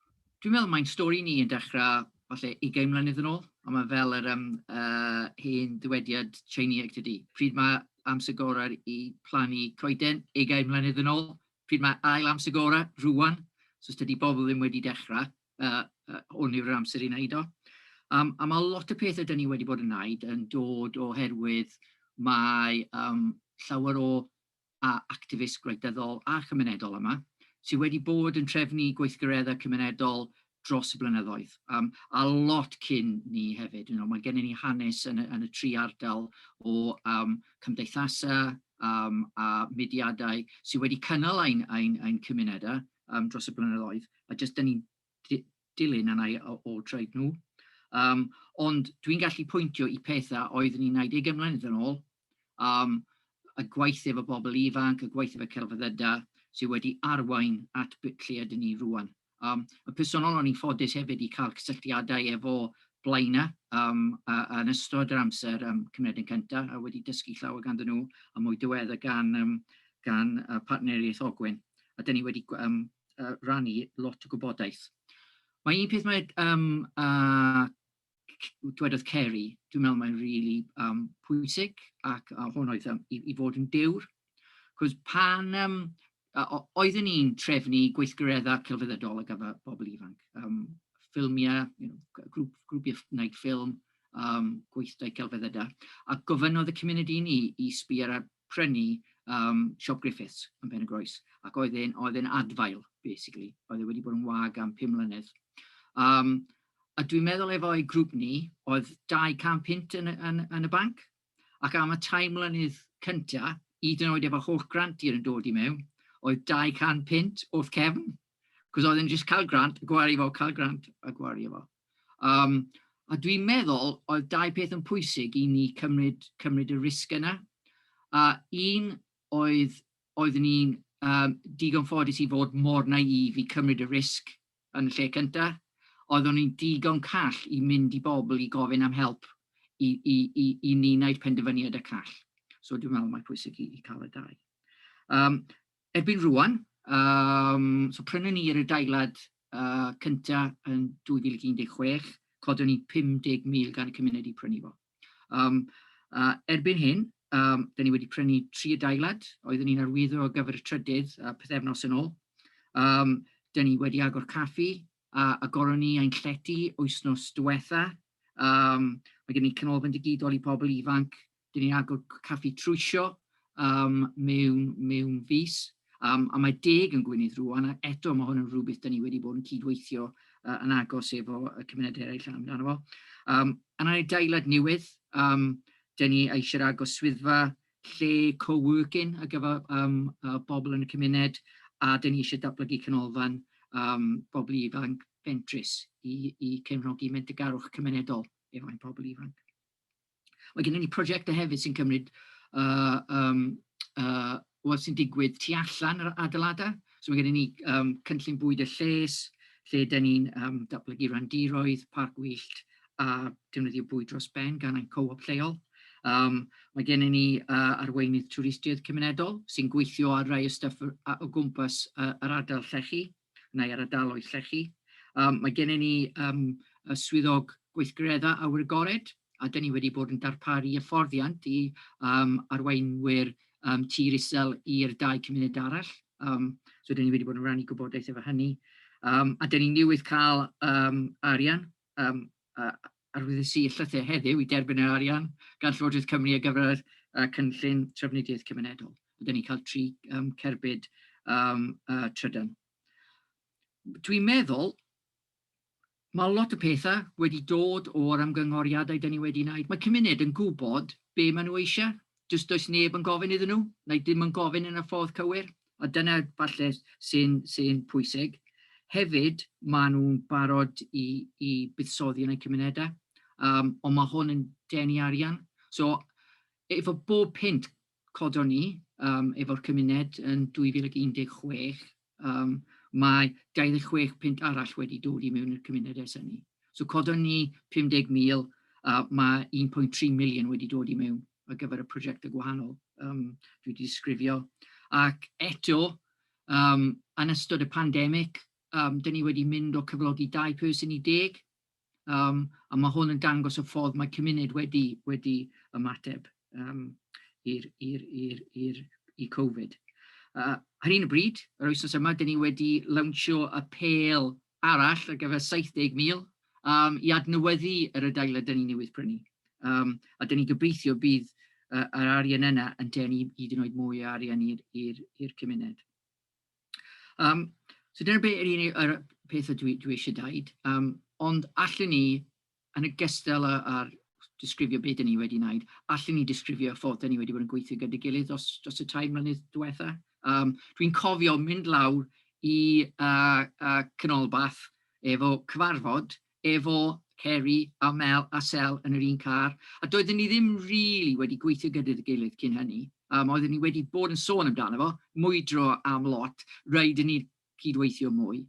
Speaker 4: Dwi'n meddwl mae'n stori ni yn dechrau falle ugain mlynedd yn ôl, ond mae fel yr yym yy hen ddywediad Tsieineaeg tydi? Pryd mae amser gorau i plannu coeden? Ugain mlynedd yn ôl. Pryd mae ail amser gorau? Rŵan. So os tydi bobl ddim wedi dechrau, yy yy hwn yw'r amser i wneud o. Um, a mae lot o pethau dyn ni wedi bod yn wneud yn dod oherwydd mae um, llawer o a actifist gwleidyddol a chymunedol yma, sydd wedi bod yn trefnu gweithgareddau cymunedol dros y blynyddoedd, um, a lot cyn ni hefyd. You know, mae gennym ni hanes yn y, yn y tri ardal o um, cymdeithasau um, a mudiadau sydd wedi cynnal ein, ein, ein cymunedau um, dros y blynyddoedd, a jyst dyn ni'n dilyn yna o, o treid nhw. Um, ond dwi'n gallu pwyntio i pethau oeddwn ni'n 90 ymlaen yn ôl, am y gwaith efo bobl ifanc, y gwaith efo celfyddydau sydd wedi arwain at lle ydyn ni rŵan. Um, y personol o'n i'n ffodus hefyd i cael cysylltiadau efo blaenau um, a, a yn ystod yr amser um, cymryd yn cyntaf a wedi dysgu llawer ganddyn nhw a mwy diwedd gan, um, gan uh, partneriaeth Ogwen. A dyn ni wedi um, uh, rannu lot o gwybodaeth. Mae un peth mae um, uh, dwedodd Ceri, dwi'n meddwl mae'n rili yym pwysig ac a hwn oedd yym i i fod yn dewr, cos pan yym yy o- oeddwn i'n trefnu gweithgareddau celfyddydol ar gyfer pobl ifanc, yym ffilmiau, you know g- grŵp grwpiau ff- wneud ffilm, yym gweithdai celfyddydau, a gofynnodd y cymuned i ni i sbio ar prynu um, Siop Griffiths yn Pen y Groes, ac oedd e'n, oedd e'n adfail, basically. Oedd e wedi bod yn wag am 5 mlynedd. Um, a dwi'n meddwl efo'i grŵp ni, oedd 200 pint yn, yn, yn y banc, ac am y tair mlynedd cyntaf, hyd yn oed efo holl grantiau yn dod i mewn, oedd 200 pint wrth cefn. Cos oedd e'n jyst cael grant, gwario fo, cael grant a gwario fo. Um, a dwi'n meddwl oedd dau peth yn pwysig i ni cymryd, cymryd y risg yna. A un oedd, oedd ni'n um, digon ffodus i fod mor naif i cymryd y risg yn y lle cyntaf. Oeddwn ni'n digon call i mynd i bobl i gofyn am help i, i, i, i ni wneud penderfyniad y call. So dwi'n meddwl mae pwysig i, i cael y dau. Um, Erbyn rŵan, yym, so prynwn ni'r adeilad uh, cynta yn 2016, codwn ni 50,000 gan y cymuned i prynu fo. Um, uh, erbyn hyn, um, dyn ni wedi prynu tri adeilad, oeddwn ni'n arwyddo ar gyfer y trydydd uh, pethefnos yn ôl. Um, dyn ni wedi agor caffi, a agoron ni ein llety wythnos diwetha', yym ma' gen i canolfan digidol i pobl ifanc, 'dyn ni'n agor caffi trwsio yym mewn mewn fis, yym a mae deg yn Gwynedd rŵan a eto ma' hwn yn rwbeth 'dyn ni wedi bod yn cydweithio yy yn agos efo y cymuned eraill amdano fo. Yym yn adeilad newydd yym 'dyn ni eisiau agor swyddfa lle co-working ar gyfer um, uh, bobl yn y cymuned, a dyn ni eisiau datblygu canolfan um, bobl ifanc fentrus i, i cefnogi mentegarwch cymunedol efo ein pobl ifanc. Mae gennym ni prosiectau hefyd sy'n cymryd uh, um, uh, wel sy'n digwydd tu allan yr adeiladau. So mae gennym ni um, cynllun bwyd y lles, lle dyn ni'n um, datblygu randiroedd, parc wyllt, a defnyddio bwyd dros ben gan ein co-op lleol. Um, mae gennym ni uh, arweinydd twristiaeth cymunedol sy'n gweithio ar rai o stuff o gwmpas uh, yr ardal llechi, neu ar ardaloedd llechi. Um, mae gennym ni um, y swyddog gweithgareddau awyr agored, a dyn ni wedi bod yn darparu hyfforddiant i um, arweinwyr um, tir isel i'r dau cymuned arall. Um, so dyn ni wedi bod yn rhannu gwybodaeth efo hynny. Um, a dyn ni newydd cael um, arian yym a arwyddus i llythyr heddiw i derbyn yr arian gan Llywodraeth Cymru ar gyfer y cynllun trafnidiaeth cymunedol. Rydan ni'n cael tri um, cerbyd um, uh, trydan. Dwi'n meddwl Mae lot o pethau wedi dod o'r ymgynghoriadau dyn ni wedi wneud. Mae cymuned yn gwybod be maen nhw eisiau. Does does neb yn gofyn iddyn nhw, neu ddim yn gofyn yn y ffordd cywir. a dyna falle sy'n sy'n pwysig. Hefyd, maen nhw'n barod i i buddsoddi yn eu cymunedau, um, ond mae hwn yn denu arian. So, efo bob pint codon ni um, efo'r cymuned yn 2016, um, mae 26 pint arall wedi dod i mewn i'r cymuned ers hynny. So codon ni 50,000, uh, mae 1.3 miliwn wedi dod i mewn. ar gyfer y prosiectau gwahanol um, dwi wedi disgrifio. Ac eto, um, yn ystod y pandemig, um, dyn ni wedi mynd o cyflogi dau person i deg, um, a mae hwn yn dangos y ffordd mae cymuned wedi, wedi ymateb um, i'r, i'r, i'r, i'r, i Covid. Uh, ar un y bryd, yr oesos yma, dyn ni wedi lawnsio y pel arall ar gyfer 70,000 yym i adnewyddu yr adeilad 'da ni newydd prynu yym a 'da ni'n gobeithio bydd yy yr arian yna yn denu hyd yn oed mwy o arian i'r i'r i'r cymuned. Yym so dyna be' yr unig yr peth y dwi dwi isie deud yym ond allwn ni Yn ogystal â'r disgrifio be dan ni wedi wneud, allwn ni disgrifio y ffordd dan ni wedi bod yn gweithio gyda'i gilydd dros dros y tair mlynedd diwetha'. Yym dwi'n cofio mynd lawr i yy y canolbarth efo cyfarfod efo Ceri a Mel a Sel yn yr un car, a doedden ni ddim rili wedi gweithio gyda'i gilydd cyn hynny. Yym oedden ni wedi bod yn sôn amdano fo, mwydro am lot, raid i ni cydweithio mwy.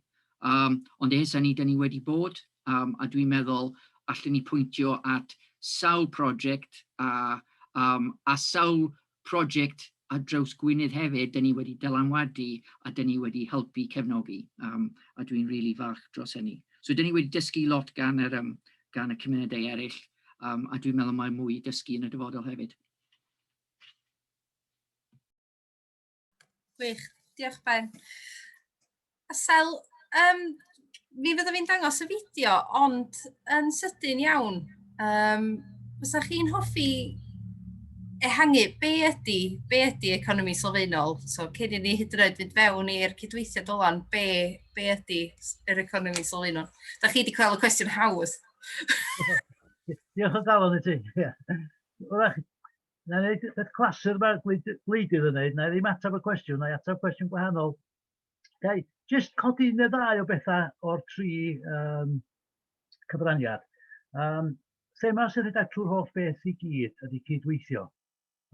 Speaker 4: Yym, ond ers hynny, 'da ni wedi bod, yym, a dwi'n meddwl allen ni pwyntio at sawl prosiect, a yym a sawl prosiect ar draws Gwynedd hefyd, 'da ni wedi dylanwadu a 'da ni wedi helpu cefnogi, yym a dwi'n rili falch dros hynny. So 'da ni wedi dysgu lot gan yr yym gan y cymunedau eraill, yym a dwi'n meddwl mae mwy i dysgu yn y dyfodol hefyd.
Speaker 1: Gwych, diolch Ben. A Sel, um, mi fyddaf fi'n dangos y fideo, ond yn sydyn iawn, um, fysa chi'n hoffi ehangu be ydy, be ydy economi sylfaenol? So, cyn i ni hyd yn oed fynd fewn i'r cydweithio dylan, be, be ydy yr economi sylfaenol? Da chi wedi cael y cwestiwn haws.
Speaker 5: Diolch o galon i ti. Wrach, Wna i wneud peth clasur mae'r gwleidydd yn wneud, wna i ddim ateb y cwestiwn, wna i ateb cwestiwn gwahanol. Ga i jyst codi un neu ddau o bethau o'r tri um, cyfraniad. Um, thema sy'n rhedeg trwy'r holl beth i gyd ydy cydweithio.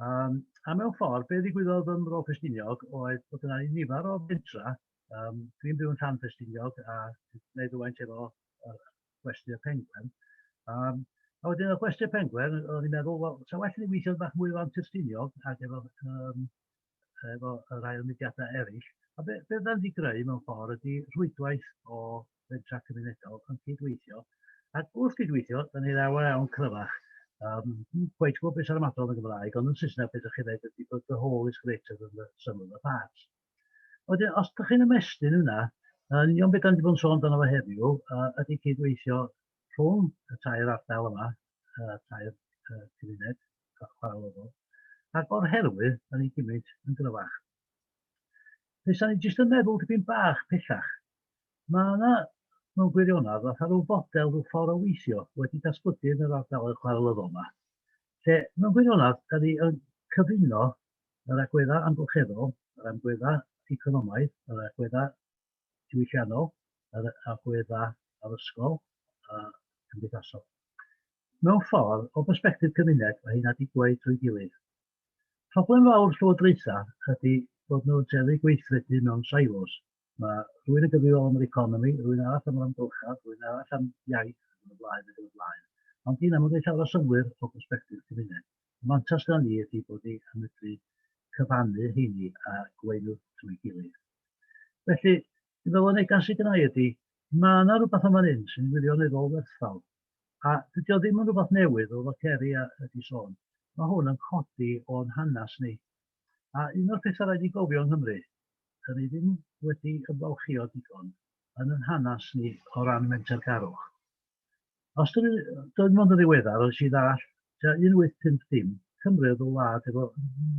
Speaker 5: Um, a mewn ffordd, be ddigwyddodd ym Mro Ffestiniog oedd bod yna nifer o fentra, um, dwi'n byw yn rhan Ffestiniog a wneud rhywfaint efo gwesti'r pengwern. Um, a wedyn y gwesti'r pengwern, o'n i'n meddwl, wel, sa well ni weithio'n bach mwy o ran tystiniog ac efo, um, efo y rhai o'r mudiadau eraill. A be, be dda'n di greu mewn ffordd ydy rhwydwaith o fentra cymunedol yn cydweithio. Ac wrth gydweithio, da ni ddaw iawn cryfach. Um, Gweud gwybod beth sy'n ymadol yn Gymraeg, ond yn Saesneg beth ydych chi'n dweud ydy bod the whole is greater than the sum of the parts. Wedyn, os ydych chi'n ymestyn yna, yn union beth da ni wedi bod yn sôn amdano fo heddiw ydy cydweithio rhwng y tair ardal yma, y tair cymuned chwarelofol, ac o'r herwydd, da ni'n gymryd yn gryfach. Fes da ni jyst yn meddwl dipyn bach pellach. Mae yna, mewn gwirionedd, fatha rhyw fodel, rhyw ffordd o weithio wedi datblygu yn yr ardaloedd chwarelofol yma, lle mewn gwirionedd, da ni yn cyfuno Yr agweddau amgylcheddol, yr amgueddau economaidd, yr agweddau diwylliannol, yr agweddau addysgol a chymdeithasol. Mewn ffordd, o bersbectif cymuned, mae heina digwae trwy gilydd. Problem fawr llywodraethau ydy bod nhw'n tueddu gweithredu mewn silos. Mae rhywun yn gyfrifol am yr economi, rhywun arall am yr amgylchedd, rhywun arall am iaith, ac yn y blaen, ac yn y blaen. Ond dyna mae'n rhoi llawer o synwyr o bersbectif cymuned. Y mantais gan ni ydy bod ni yn medru cyfannu heini a gweinu trwy gilydd. Felly, dwi'n meddwl y negas sydd gynnau ydy, mae yna rhywbeth yma'n hyn sy'n wirioneddol werthfawr. A dydy o ddim yn rhywbeth newydd, fel fod Ceri a ydi sôn. Mae hwn yn codi o'n hanes ni A un o'r pethau rhaid i gofio yng Nghymru, dan ni ddim wedi ymfalchïo digon yn yn hanes ni o ran mentergarwch. Os dwi, dwi mond yn ddiweddar, os i ddall, tua 1850, Cymru oedd y wlad efo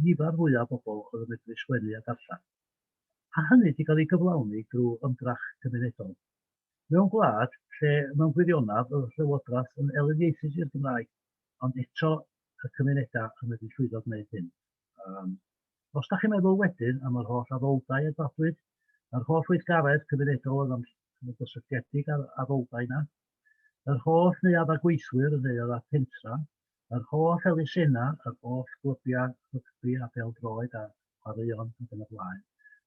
Speaker 5: nifer fwyaf o bobl oedd yn medru sgwennu a darllen. A hynny di gael ei gyflawni drwy ymdrech cymunedol. Mewn gwlad lle mewn gwirionedd oedd y llywodraeth yn eliniaethus i'r Gymraeg, ond eto y cymunedau yn medru llwyddo gwneud hyn. Um, os da chi'n meddwl wedyn am yr holl addoldai a dadwyd, yr holl weithgaredd cymunedol oedd am gysylltiedig ar addoldai yna, yr holl neu adda gweithwyr yn neuadd a pentra, yr holl elusennau, yr holl glybiau rygbi a beldroed a chwaraeon ac yn y blaen.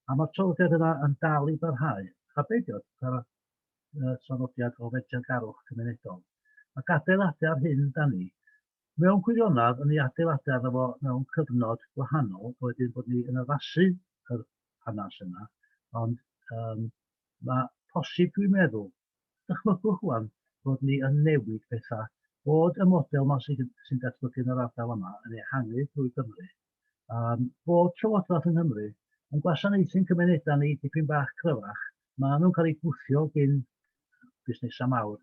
Speaker 5: A mae'r trafodaeth yna yn dal i barhau. A beidio, y traddodiad o fedriangarwch cymunedol, ac adeiladu ar hyn da ni, mewn gwirionedd, yn ei adeiladu arno fo mewn cyfnod gwahanol, a wedyn bod ni yn addasu yr hanes yna, ond um, mae posib, dwi'n meddwl, dychmygwch wan, bod ni yn newid pethau, bod y model yma sy'n sy datblygu yn yr ardal yma yn ehangu drwy Gymru, um, bod Llywodraeth yng Nghymru yn gwasanaethu'n cymunedau ni dipyn bach cryfach. Mae nhw'n cael eu gwthio gyn busnesau mawr.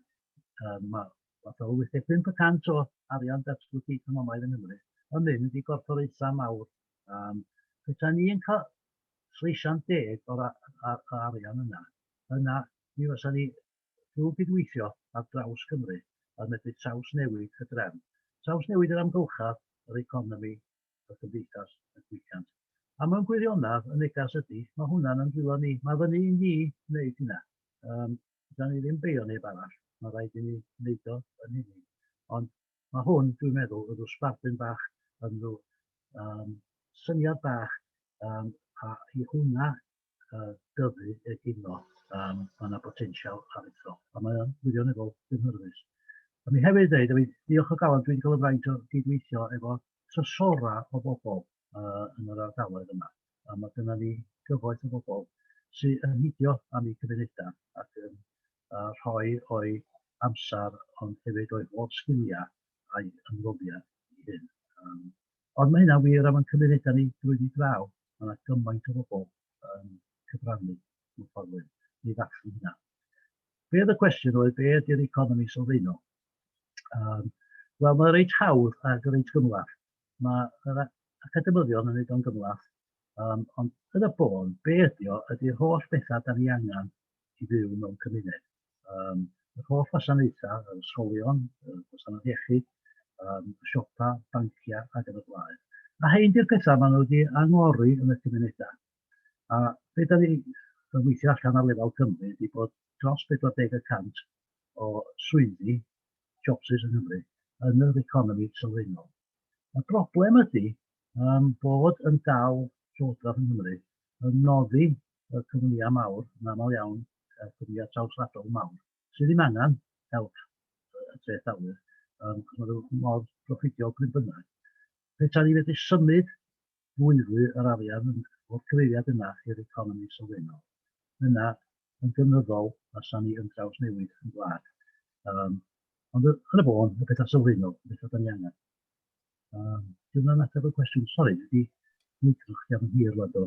Speaker 5: Um, mae fath o 85% o arian datblygu economaidd yng Nghymru yn mynd i gorfforaethau mawr. Um, Petai ni yn cael sleisian deg o'r arian yna, yna mi fysa ni Trwy gydweithio ar draws Cymru y medru trawsnewid y drefn, trawsnewid yr amgylchedd, yr economi, y cymdeithas, y diwylliant. A mewn gwirionedd, y neges ydy, mae hwnna'n yn dwylo ni, mae fyny i ni wneud hynna. Yym, fedran ni ddim beio neb arall, mae'n rhaid i ni wneud o yn hunain. Ond mae hwn, dwi'n meddwl, yn rhyw sbardun bach, yn rhyw um, syniad bach, um, a i hwnna uh, dyfu egino, um, mae yna botensial aruthrol, a mae o'n wirioneddol gynhyrfus. A mi hefyd dweud, a diolch o galon, dwi'n cael y fraint o gydweithio efo trysora o bobl uh, yn yr ardaloedd yma. A mae dyna ni gyfoeth o bobl sy'n yn hidio am ei cymunedau ac yn uh, rhoi o'i amser ond hefyd o'i holl sgiliau a'i ymroddiad i hyn. Um, Ond mae hynna'n wir am ein cymunedau ni drwyddi draw. Mae 'na gymaint o bobl yn cyfrannu mewn ffordd neu un i ddathlu hynna. Be oedd y cwestiwn oedd, be ydy'r economi sylfaenol? Um, Wel, mae'n reit hawdd ac reit gymlath. Mae'r academyddion yn ei o'n gymlath, um, ond yn y bôn, be ydy o, ydy'r holl bethau da ni angen i fyw mewn cymuned. um, yr holl wasanaethau, yr ysgolion, y gwasanaeth iechyd, um, y siopa, banciau ac yn y blaen. A hyn di'r pethau maen nhw wedi angori yn y cymunedau. A be da ni yn weithio allan ar lefel Cymru ydy bod dros 40 y cant o swyddi, jobsys yn Nghymru, yn yr economi sylfaenol. Y broblem ydy um, bod yn dal Llywodraeth yn Nghymru yn noddi y cwmnïau mawr, yn aml iawn y cwmnïau trawswladol mawr, sydd ddim angen help y treth awyr, yym, achos maen nhw mor broffwydol pryd bynnag. Petai ni fedru symud fwyfwy yr arian yn, o'r cyfeiriad yna i'r economi sylfaenol, yna yn gynyddol fasen ni yn drawsnewid y wlad. Yym, ond yn y bôn, y pethau sylfaenol, y pethau da ni angen. Yym, dyna'n ateb y cwestiwn. Sori, dwi wedi mwydro chdi am yn hir rwan do.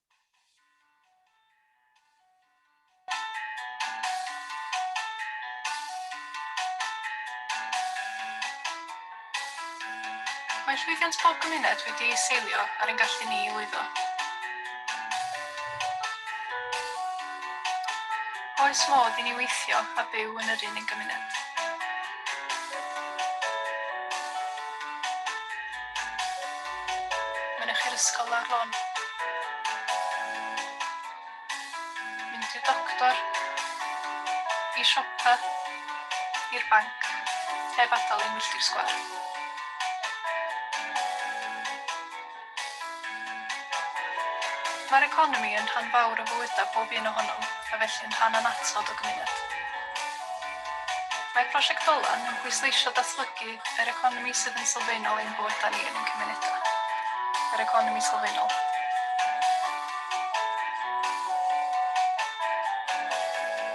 Speaker 3: Mae llwyddiant pob cymuned wedi ei seilio ar ein gallu ni i lwyddo. Oes modd i ni weithio a byw yn yr un un gymuned? Mynych i'r ysgol lawr lôn. Mynd i'r doctor. I siopa. I'r banc. Heb adael i milltir sgwâr. Mae'r economi yn rhan fawr o fywydau pob un ohonom, a felly yn rhan annatod o gymuned. Mae Prosiect Dolan yn pwysleisio datblygu yr economi sydd yn sylfaenol i'n bywydau ni yn ein cymunedau. Yr economi sylfaenol.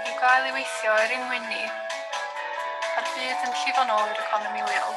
Speaker 3: I'w gael i weithio er ein mwyn ni, mae'r byd yn llifo'n ôl i'r economi leol.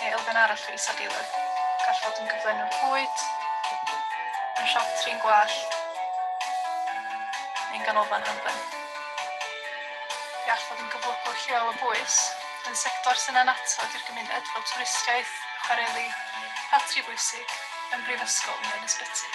Speaker 3: Neu elfen arall o isadeiledd. Gall fod yn gyflenwr bwyd, yn siop trin gwallt, neu'n ganolfan hamdden. Fe all fod yn gyflogwr lleol o bwys, yn sector sy'n annatod i'r gymuned fel twristiaeth, chwareli, ffatri bwysig, yn brifysgol neu yn ysbyty.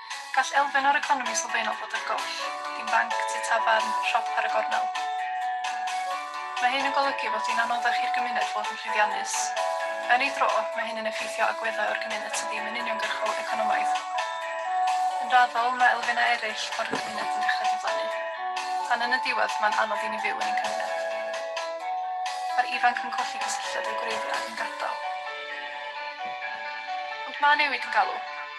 Speaker 3: Gall elfen o'r economi sylfaenol fod ar goll, dim banc, tŷ tafarn, siop ar y gornel. Mae hyn yn golygu fod hi'n anoddach i'r gymuned fod yn llwyddiannus. Yn ei dro, mae hyn yn effeithio agweddau o'r gymuned sydd ddim yn uniongyrchol economaidd. Yn raddol, mae elfennau eraill o'r gymuned yn dechrau diflannu. Tan yn y diwedd, mae'n anodd i ni fyw yn ein cymuned. Mae'r ifanc yn colli cysylltiad â'u gwreiddiau ac yn gadael.
Speaker 6: Ond mae newid yn galw.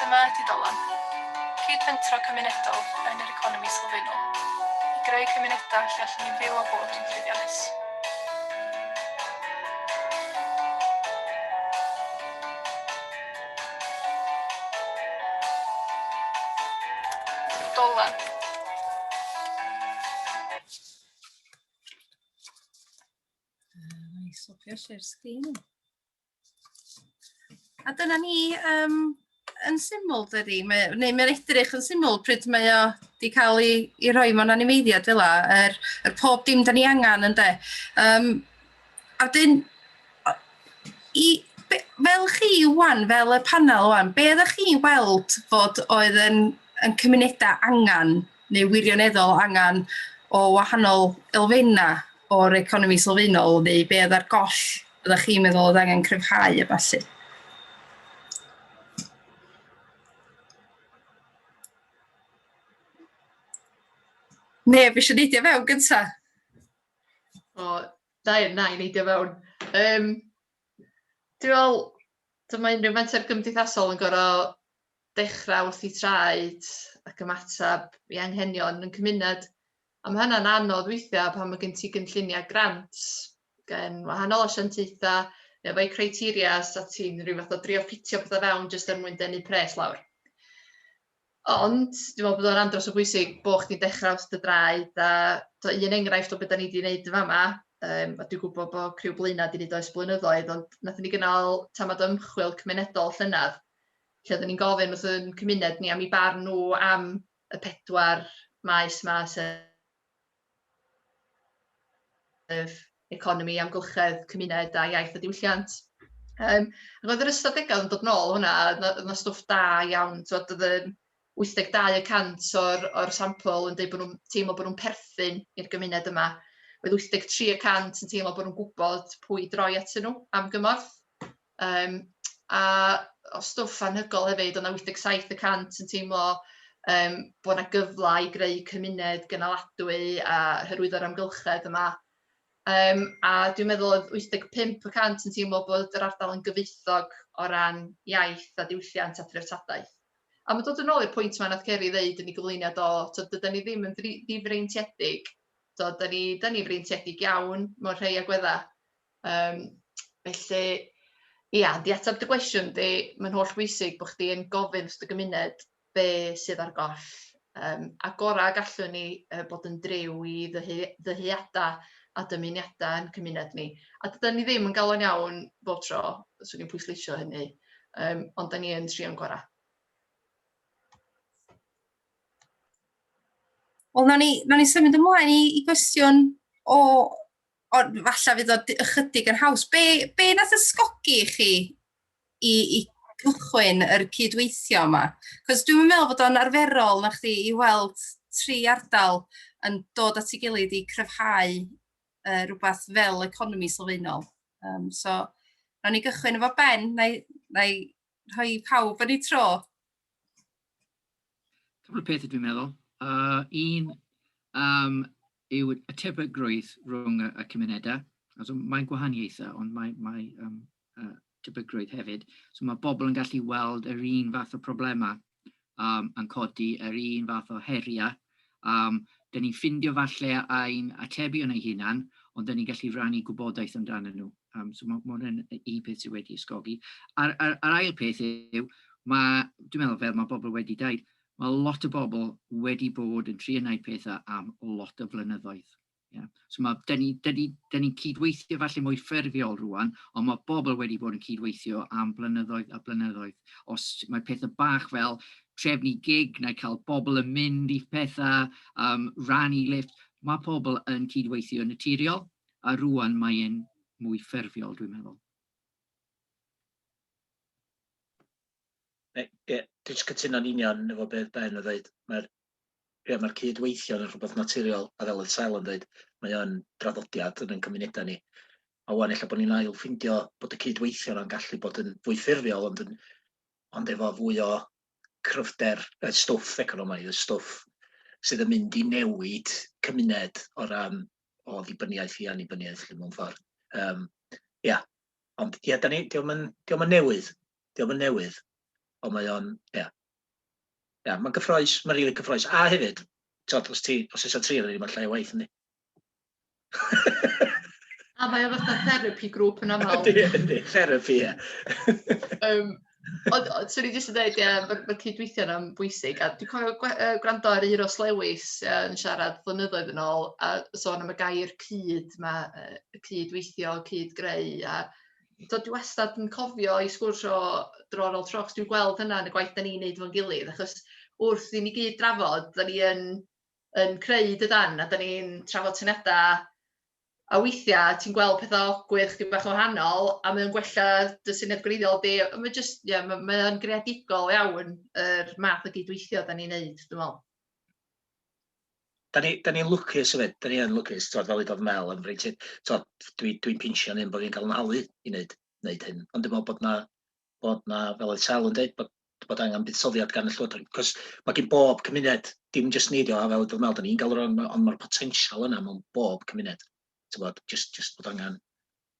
Speaker 6: Dyma ydi Dolan, cyd-fentro cymunedol yn yr economi sylfaenol, i greu cymunedau lle allwn ni fyw a bod yn llwyddiannus. Dolan.
Speaker 1: Nice, swapio share screen. A dyna ni um, yn syml, dydy? Mae, neu mae'n edrych yn syml pryd mae o wedi cael ei, ei rhoi mewn animeiddiad fel la, yr, er, er pob dim da ni angen yn de. Um, A wedyn, o- i, be, fel chi wan, fel y panel wan, be ydych chi'n weld fod oedd yn, yn cymunedau angen neu wirioneddol angen o wahanol elfennau o'r economi sylfaenol neu be ydych goll ydych chi'n meddwl oedd angen cryfhau a falle? Neb eisiau neidio fewn gyntaf?
Speaker 3: O, da iawn, na i neidio fewn. Um, dwi'n meddwl, dyma unrhyw menter gymdeithasol yn gorau dechrau wrth i traed ac ymateb i anghenion yn cymuned. A mae hynna'n anodd weithiau pan mae gen ti gynlluniau grant gen wahanol asiantaethau neu efo'u criteria a ti'n rhyw fath o drio ffitio pethau fewn jyst er mwyn denu pres lawr. Ond, dwi'n meddwl bod o'n andros o bwysig bod chdi'n dechrau wrth dy draed a do, un enghraifft o beth da ni wedi gwneud yn fama, um, a dwi'n gwybod bod criw Blaenau wedi gwneud oes blynyddoedd, ond nath ni gynnal tamad ymchwil cymunedol llynedd, lle oeddwn ni'n gofyn wrth yn cymuned ni am i barn nhw am y pedwar maes yma, sef sef economi, amgylchedd, cymuned a iaith a diwylliant. Um, roedd yr ystadegau yn dod nôl hwnna, oedd yna stwff da iawn, oedd yn 82 y cant o'r, or sampl yn dweud bod nhw'n teimlo bod nhw'n perthyn i'r gymuned yma. Oedd 83 y cant yn teimlo bod nhw'n gwybod pwy droi at nhw am gymorth. Yym a o stwff anhygoel hefyd, oedd 'na 87 y cant yn teimlo yym bod 'na gyfle i greu cymuned gynaladwy a hyrwyddo'r amgylchedd yma. Yym a dwi'n meddwl oedd 85 y cant yn teimlo bod yr ardal yn gyfoethog o ran iaith a diwylliant a threftadaeth. A mae'n dod yn ôl i'r pwynt yma nath Ceri ddeud yn ei gyflwyniad o, tod, dydan ni ddim yn ddifreintiedig, tod, da ni, da ni freintiedig iawn mewn rhai agweddau. Yym felly ia, i ateb dy gwestiwn di, mae'n holl bwysig bod chdi yn gofyn wrth dy gymuned be sydd ar goll. Yym a gora y gallwn ni yy bod yn driw i ddyhu- ddyheada a dymuniada ein cymuned ni. A dydan ni ddim yn galon iawn bob tro, 'swn i'n pwysleisio hynny, yym ond 'dan ni yn trio'n gora.
Speaker 1: Wel, nawn ni, nawn ni symud ymlaen i, i gwestiwn o Ond falle fydd o ychydig yn haws. Be, be nath ysgogi chi i, i gychwyn yr cydweithio yma? Cos dwi'n meddwl bod o'n arferol na chdi i weld tri ardal yn dod at ei gilydd i cryfhau uh, rhywbeth fel economi sylfaenol. Um, so, rhaid ni gychwyn efo Ben, na i, na i rhoi i pawb yn ei tro?
Speaker 4: Cwbl o pethau dwi'n meddwl. Uh, un um, yw y tebygrwydd rhwng y, y cymunedau. So, mae'n gwahaniaethau, ond mae, mae um, uh, tebygrwydd hefyd. So mae bobl yn gallu weld yr un fath o problemau um, yn codi yr un fath o heriau. Um, Dyna ni'n ffindio falle ein atebion ei hunan, ond dyna ni'n gallu rannu gwybodaeth amdano nhw. Um, so mae ma hwnna'n un peth sydd wedi ysgogi. A'r, ar, ar ail peth yw, mae, dwi'n meddwl fel mae bobl wedi dweud, mae lot o bobl wedi bod yn trio gwneud pethau am lot o flynyddoedd. Ie, so ma'... 'dyn ni 'dyn ni 'dyn ni'n cydweithio falle mwy ffurfiol rŵan, ond ma' bobl wedi bod yn cydweithio am blynyddoedd a blynyddoedd. Os mae pethe bach fel trefnu gig neu cael bobl yn mynd i petha, yym rannu lifft, ma' pobl yn cydweithio yn naturiol, a rŵan mae e'n mwy ffurfiol dwi'n meddwl. Ie, dwi jyst
Speaker 2: cytuno'n union efo beth Ben yn ddeud, mae'r Ie, mae'r cyd-weithio yn rhywbeth naturiol, a fel oedd Sel yn dweud, mae o'n draddodiad yn ein cymunedau ni. A wan, ella bod ni'n ail ffindio bod y cyd-weithio yna'n gallu bod yn fwy ffurfiol, ond, yn, ond efo fwy o cryfder y stwff economaidd, y stwff sydd yn mynd i newid cymuned o ran o ddibyniaeth i annibyniaeth mewn ffordd. Um, ia, ond ia, da ni, diolch yn, diolch yn newydd, diolch yn newydd, ond mae o'n, ia, Ia, mae'n gyffroes, mae'n rili cyffroes. A hefyd, tod, os ti, os eisiau tri rili, mae'n llai o waith, yndi?
Speaker 3: A mae o fatha therapy grŵp yn aml. Yndi, yndi, therapy,
Speaker 2: ie. um, ond,
Speaker 3: ond swn i jyst yn dweud, ie, mae ma cydweithio yna'n bwysig. A dwi'n cofio gwa, uh, gwrando ar Euros Lewis uh, yn siarad flynyddoedd yn ôl, a sôn am y gair cyd, mae uh, cydweithio, cyd-greu, a tibod dwi wastad yn cofio i sgwrs o dro ar ôl tro, achos dwi'n gweld hynna yn y gwaith 'dan ni'n neud efo'n gilydd, achos wrth i ni gyd drafod, 'dan ni yn yn creu dydan, a 'dan ni'n trafod syniadau a weithiau ti'n gweld pethau awkward chdi bach yn wahanol a mae o'n gwella dy syniad gwreiddiol di, a mae jyst, ie, ma' mae o'n greadigol iawn yr math o gydweithio 'dan ni'n neud, dwi'n meddwl. da ni,
Speaker 2: da ni'n lwcus yfyd, da ni yn lwcus, tywed, fel udodd Mel, yn rhaid ti, tywed, dwi'n dwi pinsio'n un bod fi'n cael yn halu i wneud, wneud hyn. Ond dwi'n meddwl bod na, bod na, fel oedd Sel yn dweud, bod, bod angen buddsoddiad gan y llywodraeth. Cos mae gen bob cymuned, dim jyst ni, a fel udodd Mel, da ni'n gael yr ond mae'r potensial yna mewn bob cymuned. Tywed, jyst, jyst bod angen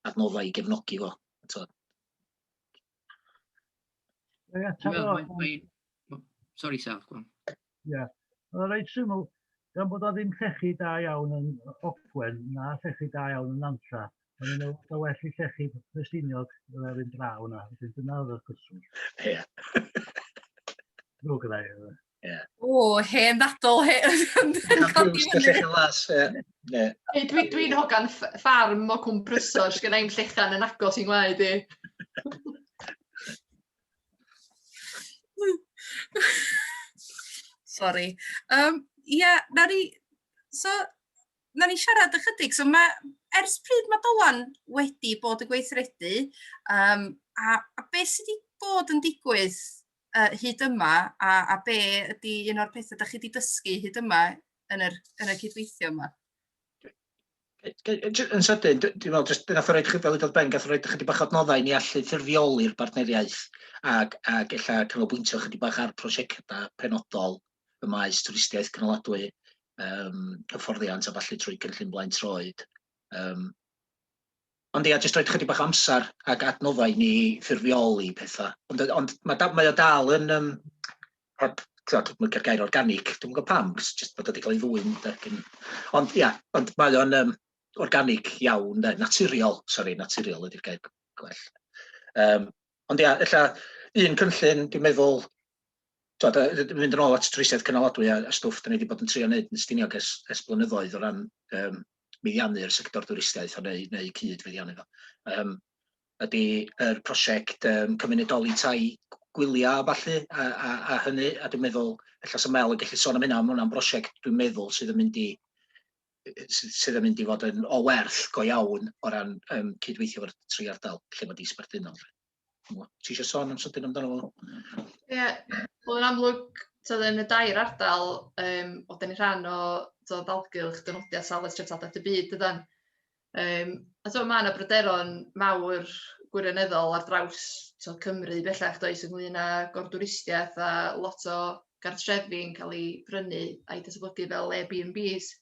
Speaker 2: adnoddau i gefnogi fo. Tywed.
Speaker 4: Sori Sel, go on. Ia, oedd
Speaker 5: o'n reit syml, gan bod o ddim llechi da iawn yn Ogwen, na llechi da iawn yn Nantlla, o'n i'n meddwl bod well i llechi Ffestiniog yr un draw yna, felly dyna oedd y cwestiwn. Ia. Ddrwg gyda i. Yeah. O,
Speaker 1: hen ddadl, hen codi
Speaker 3: fyny. Dwi'n dwi, dwi hogan ffarm o cwm prysor, sgan i'n llechan yn agos i'n ngwaed i.
Speaker 1: Sorry. Um, yeah, na ni, so, na ni siarad ychydig. So mae, ers pryd mae Dolan wedi bod yn gweithredu, um, a, a beth sydd wedi bod yn digwydd uh, hyd yma a, a be ydy un o'r pethau da chi wedi dysgu hyd yma yn yr, yn y cydweithio yma?
Speaker 2: Yn sydyn, dwi'n meddwl, jyst gath o roed fel ydodd Ben, gath o roed chydig bach adnoddau ni allu ffurfioli'r bartneriaeth ac, ac ella canolbwyntio chydig bach ar prosiectau penodol y maes twristiaeth cynaladwy, um, hyfforddiant a falle trwy cynllun blaen troed. Um, Ond ia, jyst rhoid chydig bach o amser ac adnoddau i ni ffurfioli petha. Ond yy ond ma' da- mae o dal yn yym heb t'wod dwi'm yn licio'r gair organic, dwi'm yn gwbo pam, jyst jyst bod o 'di ca'l ei ddwyn 'de gin... Ond ia, ond mae o'n yym organic iawn 'de, naturiol, sori, naturiol ydi'r gair gwell. Yym ond ia, ella un cynllun dwi'n meddwl T'od, a d- mynd yn ôl at twristiaeth cynaladwy a a stwff 'dan ni 'di bod yn trio neud yn Stiniog ers ers blynyddoedd o ran yym meddiannu'r sector dwristiaeth o neu neu cyd-feddiannu fo yym ydi yr prosiect yym cymunedoli tai g- gwylia a ballu a a a hynny a dwi'n meddwl ella sa Mel yn gellu sôn am hynna on' ma' wnna'n brosiect dwi'n meddwl sydd yn mynd i yy yy sy- sydd yn mynd i fod yn o werth go iawn o ran yym cydweithio efo'r tri ardal lle ma' 'di sbarduno 'lly. ti eisiau sôn am sydyn amdano fo? Ie, yeah, wel yn amlwg,
Speaker 3: tyd, yn y dair ardal, um, o dyn ni rhan o tyd, dalgylch dynodiad safle treftadaeth y byd, dydan. Um, a tyd, mae yna bryderon mawr gwirioneddol ar draws tyd, Cymru bellach does ynglyn â gordwristiaeth a lot o gartrefi'n cael ei brynu a'i datblygu fel Airbnbs.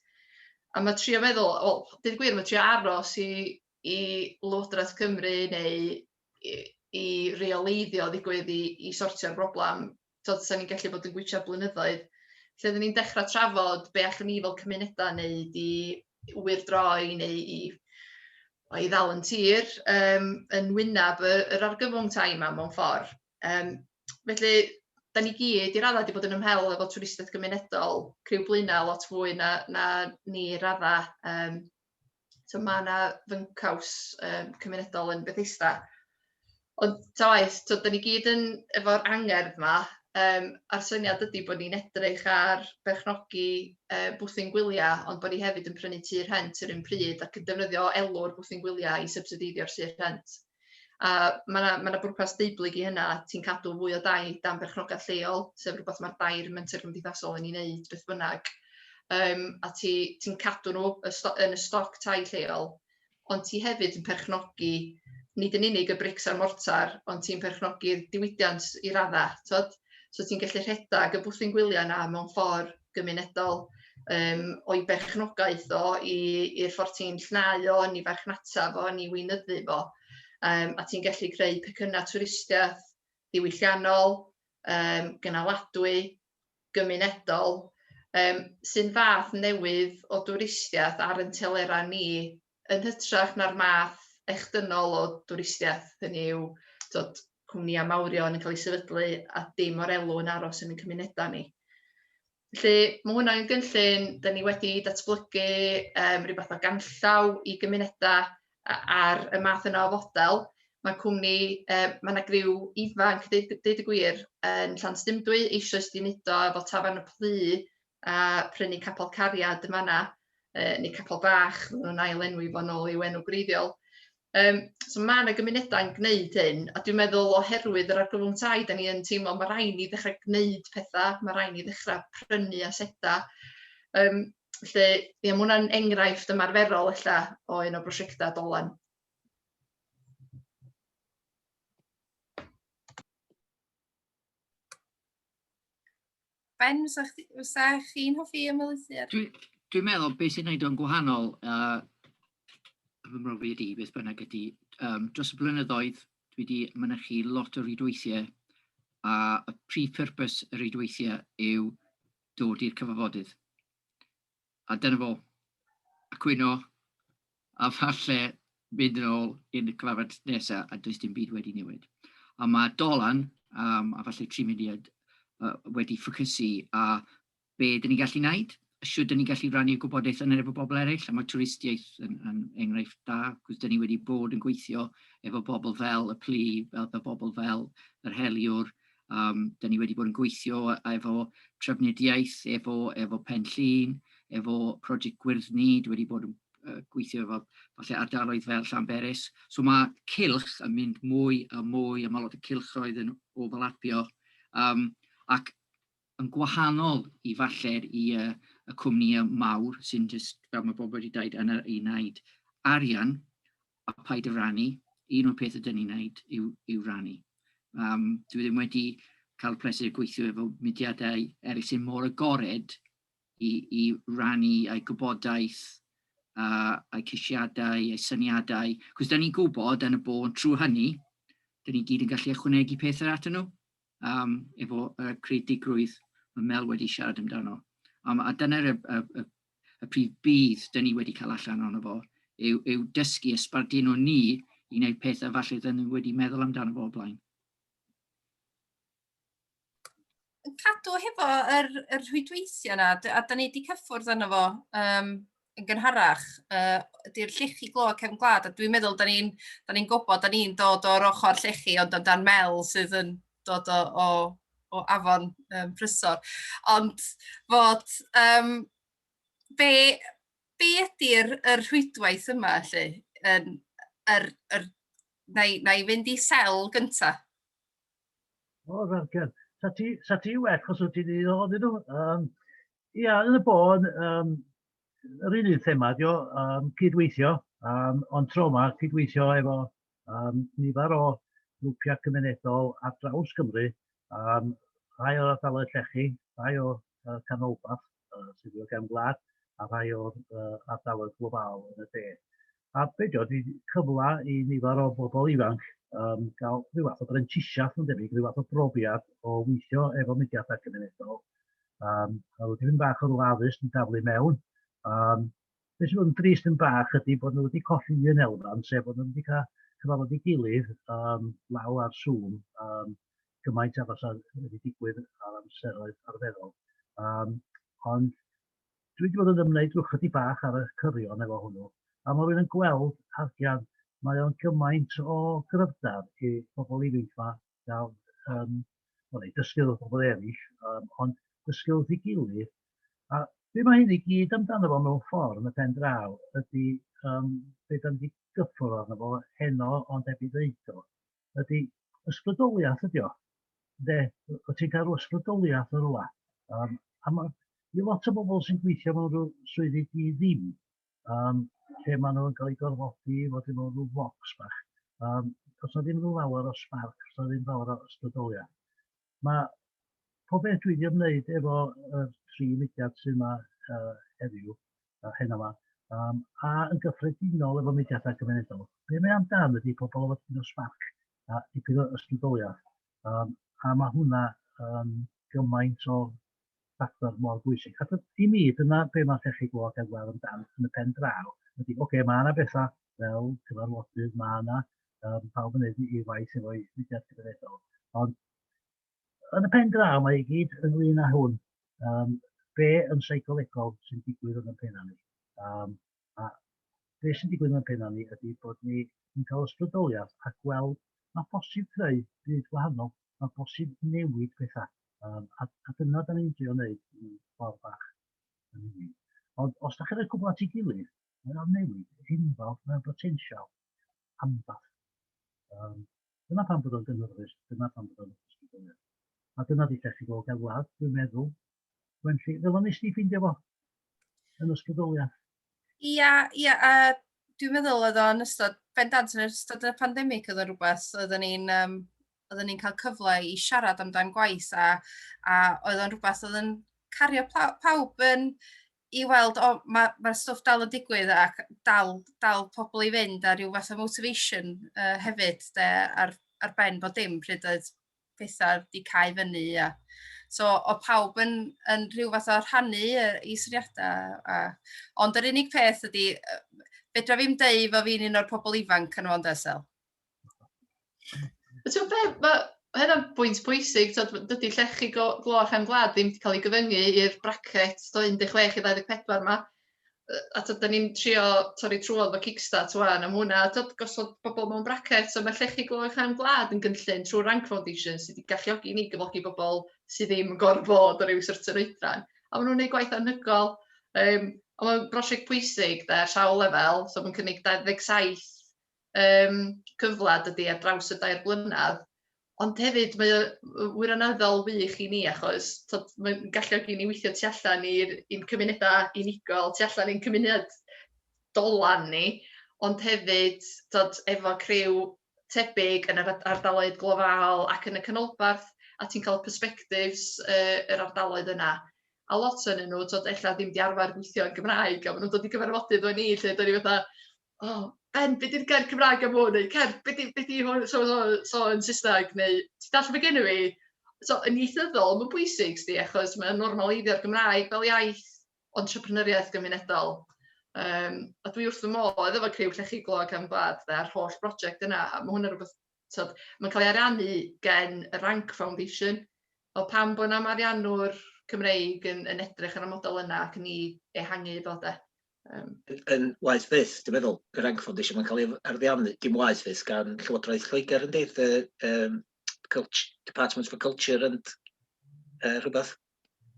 Speaker 3: A mae trio meddwl, wel, dyn gwir, mae trio aros i i Lywodraeth Cymru neu i i reoleiddio ddigwydd i i sortio'r broblam t'od 'sa ni'n gallu bod yn gwitsiad blynyddoedd lle oddan ni'n dechra trafod be' allwn ni fel cymunedau neud i ŵyr droi neu i o i ddal yn tir yym yn wyneb y yr argyfwng tai 'ma mewn ffor yym felly 'dan ni gyd i radda 'di bod yn ymhel efo twristiaeth gymunedol criw Blaenau lot fwy na na ni i radda yym so mae yna fyncaws um, cymunedol yn Bethesda. Ond ta waith, so, da ni gyd yn efo'r angerdd yma, um, a'r syniad ydy bod ni'n edrych ar berchnogi uh, bwthyn gwyliau, ond bod ni hefyd yn prynu tir rhent yr un pryd ac yn defnyddio elw'r bwthyn gwyliau i subsideiddio'r tir rhent. A mae yna ma bwrpas deublyg i hynna, ti'n cadw fwy o dai dan berchnogaeth lleol, sef rhywbeth mae'r dair menter gymdeithasol yn ei wneud beth bynnag, um, a ti'n ti cadw nhw yn y stoc tai lleol, ond ti hefyd yn perchnogi nid yn unig y brics a'r mortar, ond ti'n perchnogi'r diwydiant i raddau, tod? So ti'n gallu rhedeg y bwthyn gwyliau yna mewn ffordd gymunedol, um, o'i berchnogaeth o i'r ffordd ti'n llnau o, yn ei farchnata fo, yn ei weinyddu fo, um, a ti'n gallu creu pecynnau twristiaeth ddiwylliannol, um, gynaladwy, gymunedol, um, sy'n fath newydd o dwristiaeth ar yn telerau ni yn hytrach na'r math echdynol o dwristiaeth, hynny yw, tibod, cwmnïau mawrion yn cael eu sefydlu a dim o'r elw yn aros yn ein cymunedau ni. Felly, mae hwnna yn gynllun, da ni wedi datblygu um, rhywbeth o ganllaw i gymunedau ar y math yna o fodel. Mae cwmni, uh, mae yna griw ifanc, deud, deud y gwir, yn Llan Stumdwy, eisoes di wneud o efo Tafarn y Plu, a prynu capel cariad yn fanna, uh, neu capel bach, maen nhw'n ail enwi fo'n ôl i'w enw gwreiddiol. Um, so mae yna gymunedau yn gwneud hyn, a dwi'n meddwl oherwydd yr argyfwng tai, da ni yn teimlo mae rhaid ni ddechrau gwneud pethau, mae rhaid ni ddechrau prynu asedau. Um, felly, ie, mae hwnna'n enghraifft ymarferol ella o un o brosiectau dolen.
Speaker 1: Ben, fysa chi'n hoffi ymwneud ar? Dwi'n dwi meddwl beth
Speaker 4: sy'n gwneud o'n gwahanol uh, fy mrofi ydi, beth bynnag ydi, um, dros y blynyddoedd dwi wedi mynychu lot o rhydweithiau a y prif purpose y rhydweithiau yw dod i'r cyfarfodydd. a dyna fo, a cwyno, a falle mynd yn ôl i'r cyfarfod nesa a does dim byd wedi newid. A mae Dolan, um, a falle tri mudiad, uh, wedi ffocysu a be dyn ni'n gallu wneud, a siwr dyn ni'n gallu rannu gwybodaeth yn efo bobl eraill, a mae twristiaeth yn, yn enghraifft da, cwrs dyn ni wedi bod yn gweithio efo bobl fel y plu, fel y bobl fel yr heliwr, Um, da ni wedi bod yn gweithio efo trafnidiaeth, efo, efo Pen Llun, efo prosiect Gwyrddni, dwi wedi bod yn uh, gweithio efo falle ardaloedd fel Llanberis. So mae cilch yn mynd mwy a mwy, a mae lot o cilchroedd yn overlapio. Um, ac yn gwahanol i falle'r i y y cwmnïe mawr sy'n jyst fel ma' bobl wedi deud yn yr i wneud arian a paid â rannu, un o'r pethe 'dyn ni'n neud yw yw rannu. Yym dwi ddim wedi cael y pleser o gweithio efo mudiadau eryll sy'n mor agored i i rannu eu gwybodaeth a a'u ceisiadau, eu syniadau, 'c'os 'dan ni'n gwybod yn y bôn trw hynny 'dyn ni gyd yn gallu ychwanegu pethe atyn nhw. um, efo uh, creadigrwydd, mae Mel wedi siarad amdano. Um, a dyna'r y, y, y, y prif bydd dyn ni wedi cael allan ono fo, yw, yw dysgu ysbardu nhw ni i wneud pethau falle dyn ni wedi meddwl amdano fo o blaen.
Speaker 1: Cadw hefo yr, yr rhwydweithio yna, a dyn ni wedi cyffwrdd yno fo um, yn gynharach uh, ydy'r llechi glo cefn gwlad, a dwi'n meddwl, da ni'n ni, gwybod, da ni'n dod o'r ochr llechi, ond amdan mel sydd yn dod o, o, o afon um, prysor. Ond fod, um, be, be ydy'r er rhwydwaith yma, lle? Yn, er, er, na, i, na i fynd i sel gyntaf.
Speaker 5: O, rhaid, Sa ti, sa ti well, chos wyt ti'n un o ddyn nhw. Um, Ia, yn y bôn, um, yr un un thema dio, um, cydweithio, um, ond tro yma cydweithio efo um, nifer o grwpiau cymunedol ar draws Cymru, um, rhai o'r ardaloedd llechi, rhai o uh, canolbarth uh, sydd wedi gefn gwlad, a rhai o'r uh, ardaloedd global yn y de. a be' 'di o 'di cyfla i nifer o bobl ifanc yym ga'l rhyw fath o brentisiath ma'n debyg, rhyw fath o brofiad o weithio efo mudiadau cymunedol, yym a rw dipyn bach o rw addysg i daflu mewn, yym be' sy'n bod yn drist yn bach ydi bod nhw wedi colli un elfen, sef bod nhw wedi cael cyfarfod ei gilydd yym law ar Zoom yym gymaint â fasa wedi digwydd ar amseroedd arferol yym ond Dwi wedi bod yn ymwneud drwy chydig bach ar y cyrion efo hwnnw, a mae rwy'n yn gweld, Hardian, mae o'n gymaint o gryfder i bobl ifanc yma gael um, well, ei dysgu wrth bobl eraill, um, ond dysgu wrth ei gilydd. A be mae hyn i gyd amdano fo mewn ffordd yn y pen draw ydy um, beth am wedi gyffwrdd arno fo heno ond heb ei ddeud o. ydy ysbrydoliaeth ydy o. De, o ti'n cael ysbrydoliaeth yn rhywle. Um, a mae i lot o bobl sy'n gweithio mewn rhyw swyddi di ddim, um, lle maen nhw'n cael eu gorfodi i fod i mewn rhyw fox bach. Um, os na ddim rhyw lawer o spark, os na ddim lawer o ysbrydoliaeth. Mae pob peth dwi 'di ymwneud efo y tri mudiad sy' 'ma yy heddiw, yy heno 'ma, yym a yn gyffredinol efo mudiadau cymunedol, be' mae amdan ydi pobl efo dipyn o sbarc a dipyn o ysbrydoliaeth, yym a ma' hwnna yn gymaint o factor mor bwysig. Achos i mi, dyna be mae llechi gwlad Ewel yn dan yn y pen draw, ydy, oce, okay, mae yna bethau fel cyfarfodydd, mae yna um, pawb yn edrych i waith efo'i fudiad cyfredol, ond yn y pen draw mae i gyd ynglyn â hwn, um, be yn seicolegol sy'n digwydd yn y pen ni. Um, A be sy'n digwydd mewn penna ni ydy bod ni yn cael ysbrydoliaeth a gweld ma' bosib creu byd gwahanol, ma' bosib newid petha, um, a, a dyna da ni'n drio wneud yn ffordd bach yn hynny. Ond os da chi'n rhoi cwbl at ei gilydd, mae o'n newid enfawr, mae'n botensial anfath. Um, dyna pan bod o'n gynhyrfus, dyna pan bod o'n ysbrydoliaeth. A dyna di lle chi fod gan wlad, dwi'n meddwl, Wenlli, fel o'n nes di ffeindio fo yn ysbrydoliaeth? Ia,
Speaker 1: ia, a dwi'n meddwl oedd o'n ystod, bendant yn ystod y pandemig oedd o'n rhywbeth, oeddwn ni'n um, oeddwn ni'n cael cyfle i siarad amdan gwaith a, a oedd o'n rhywbeth oedd yn cario pawb yn i weld, o, mae'r ma, stwff dal yn digwydd ac dal, dal pobl i fynd a rhyw fath o motivation uh, hefyd de, ar, ar ben bod dim pryd oedd pethau wedi cael fyny. A, so, o pawb yn, yn rhyw fath o rhannu i syniadau. A, ond yr unig peth ydy, fedra fi'n deu fo fi'n un o'r pobl ifanc yn o'n desel. Ti'n
Speaker 3: be, mae hynna'n bwynt pwysig, dydy llechi glo a chefn gwlad ddim wedi cael ei gyfyngu i'r bracet 16 i 24 yma. a tibod dan ni'n trio torri trwodd efo Kickstart ŵan a ma' hwnna tibod gosod pobl mewn bracets so ma' Llechi Glo Uwchrain Gwlad yn gynllun trwy Rank Foundation sydd wedi galluogi ni gyflogi bobl sydd ddim yn gorfod bod o ryw certain oedran a maen nhw'n gwneud gwaith anhygoel um, a mae'n brosiect pwysig da ar sawl lefel so mae'n cynnig 27 um, cyfle dydy ar draws y dair blynedd, ond hefyd mae o wirioneddol wych i ni achos tod, mae'n galluog i ni weithio tu allan i'n cymunedau unigol, tu allan i'n cymuned dolan ni, ond hefyd tod, efo criw tebyg yn yr ardaloedd glofaol ac yn y canolbarth, a ti'n cael perspectives uh, yr ardaloedd yna a lot o'n nhw, tod, ella ddim di arfer gweithio yn Gymraeg, a maen nhw'n dod i gyfarfodydd o'n ni, lle dod ni fatha, o, Ben, be 'di'r gair Cymraeg am hwn? Neu Ken, be 'di be 'di hwn so so so yn Saesneg neu ti'n dallt be geni fi? So yn ieithyddol mae'n bwysig 'sdi achos mae'n normaleiddio'r Gymraeg fel iaith entrepreneuriaeth gymunedol. Yym a dwi wrth fy modd efo criw Llechi Glo Cefn Gwlad de a'r holl broject yna a ma' hwn yn rwbeth t'od mae'n cael ei ariannu gen y Rank Foundation o pam bod 'na ariannwr Cymreig yn yn edrych ar y model yna ac yn 'i ehangu fo de? Yym. Yn
Speaker 2: waeth fyth, dwi'n meddwl, y Rank Foundation, mae'n cael ei arddiannu, dim waeth fyth, gan Llywodraeth Lloegr, yndi? The um, Culture, Department for Culture and uh, rhywbeth.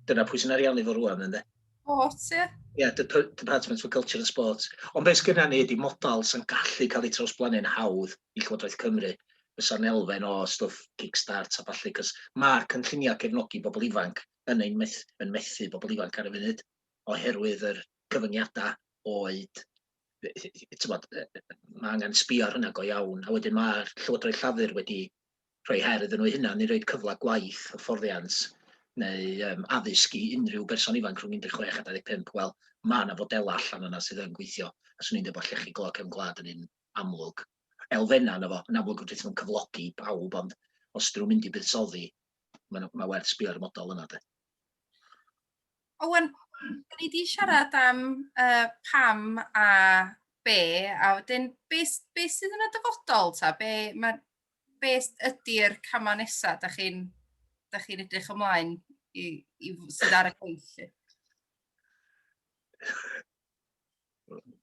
Speaker 2: Dyna pwy sy'n ariannu fo rwan, ynddi? Sport, ie. Yeah.
Speaker 1: yeah, the Department
Speaker 2: for Culture and Sports. Ond beth sydd ni ydy modal sy'n gallu cael ei trawsblannu'n hawdd i Llywodraeth Cymru fysa'n elfen o stwff Kickstart a falle, cos mae'r cynlluniau cefnogi bobl ifanc yn ein meth, yn methu bobl ifanc ar y funud. oherwydd yr cyfyngiadau oed, tibod, mae angen sbio ar hynna go iawn, a wedyn mae'r Llywodraeth Llafur wedi rhoi her iddyn nhw hynna, neu roed cyfle gwaith, hyfforddiant, neu um, addysg i unrhyw berson ifanc rhwng 16 a 25, wel, mae yna fodelau allan yna sydd yn gweithio, a swn i'n dweud bod llechi glo cefn gwlad yn un amlwg. Elfenna yna fo, yn amlwg wrth nhw'n cyflogi pawb, ond os dyn nhw'n mynd i buddsoddi, mae, mae werth sbio ar y model yna. De. Owen,
Speaker 1: dyn ni wedi siarad am uh, pam a be, a wedyn be, be sydd yn y dyfodol, ta? Be, ma, be ydy'r camau nesaf da chi'n chi edrych ymlaen i, i sydd ar y gweithlu?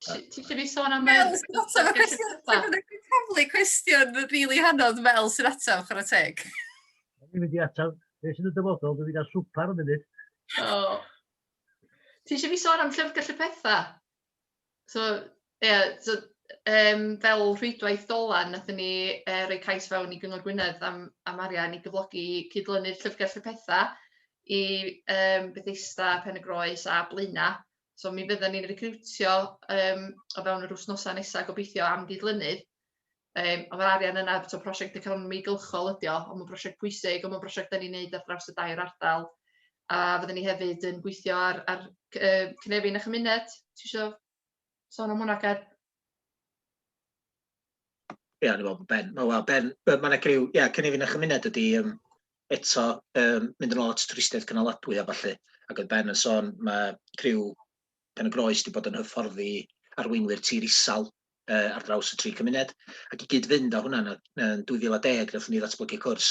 Speaker 3: Ti eisiau fi sôn am... Mel, sy'n
Speaker 1: ataf y cwestiwn. Dwi'n cyflu cwestiwn rili hanodd, Mel, sy'n ataf, chwarae teg. Dwi'n mynd i
Speaker 5: ataf. Be sy'n y dyfodol, dwi'n mynd i gael swpar yn munud. Oh.
Speaker 3: Ti eisiau fi sôn am llyfrgell y pethau? So, ie, yeah, so, um, fel rhwydwaith dolan, nathyn ni uh, roi cais fewn i Gyngor Gwynedd am, am arian i gyflogi cydlynu'r llyfrgell y pethau i um, Bethesda, Pen y Groes a Blaenau So mi fydden ni'n recriwtio um, o fewn yr wythnosau nesaf gobeithio am gydlynydd. Um, ond mae'r arian yna, so prosiect economi gylchol ydi o, ond mae'n prosiect pwysig, ond mae'n prosiect da ni'n neud ar draws y dair ardal. A fydden ni hefyd yn gweithio ar, ar uh, cynefin a chymuned. Ti eisiau sôn am hwnna, Ger?
Speaker 2: Ie, o'n i'n meddwl bod Ben. O, wel, Ben, be- ma' 'na griw, ie, cynefin a chymuned ydi yym, eto yym, mynd yn ôl at twristiaeth gynaladwy a ballu, ac oedd Ben yn sôn, mae criw Pen y Groes wedi bod yn hyfforddi arweinwyr tir isel uh, ar draws y tri cymuned, ac i gyd-fynd â hwnna, yn 2010, wnaethon ni ddatblygu cwrs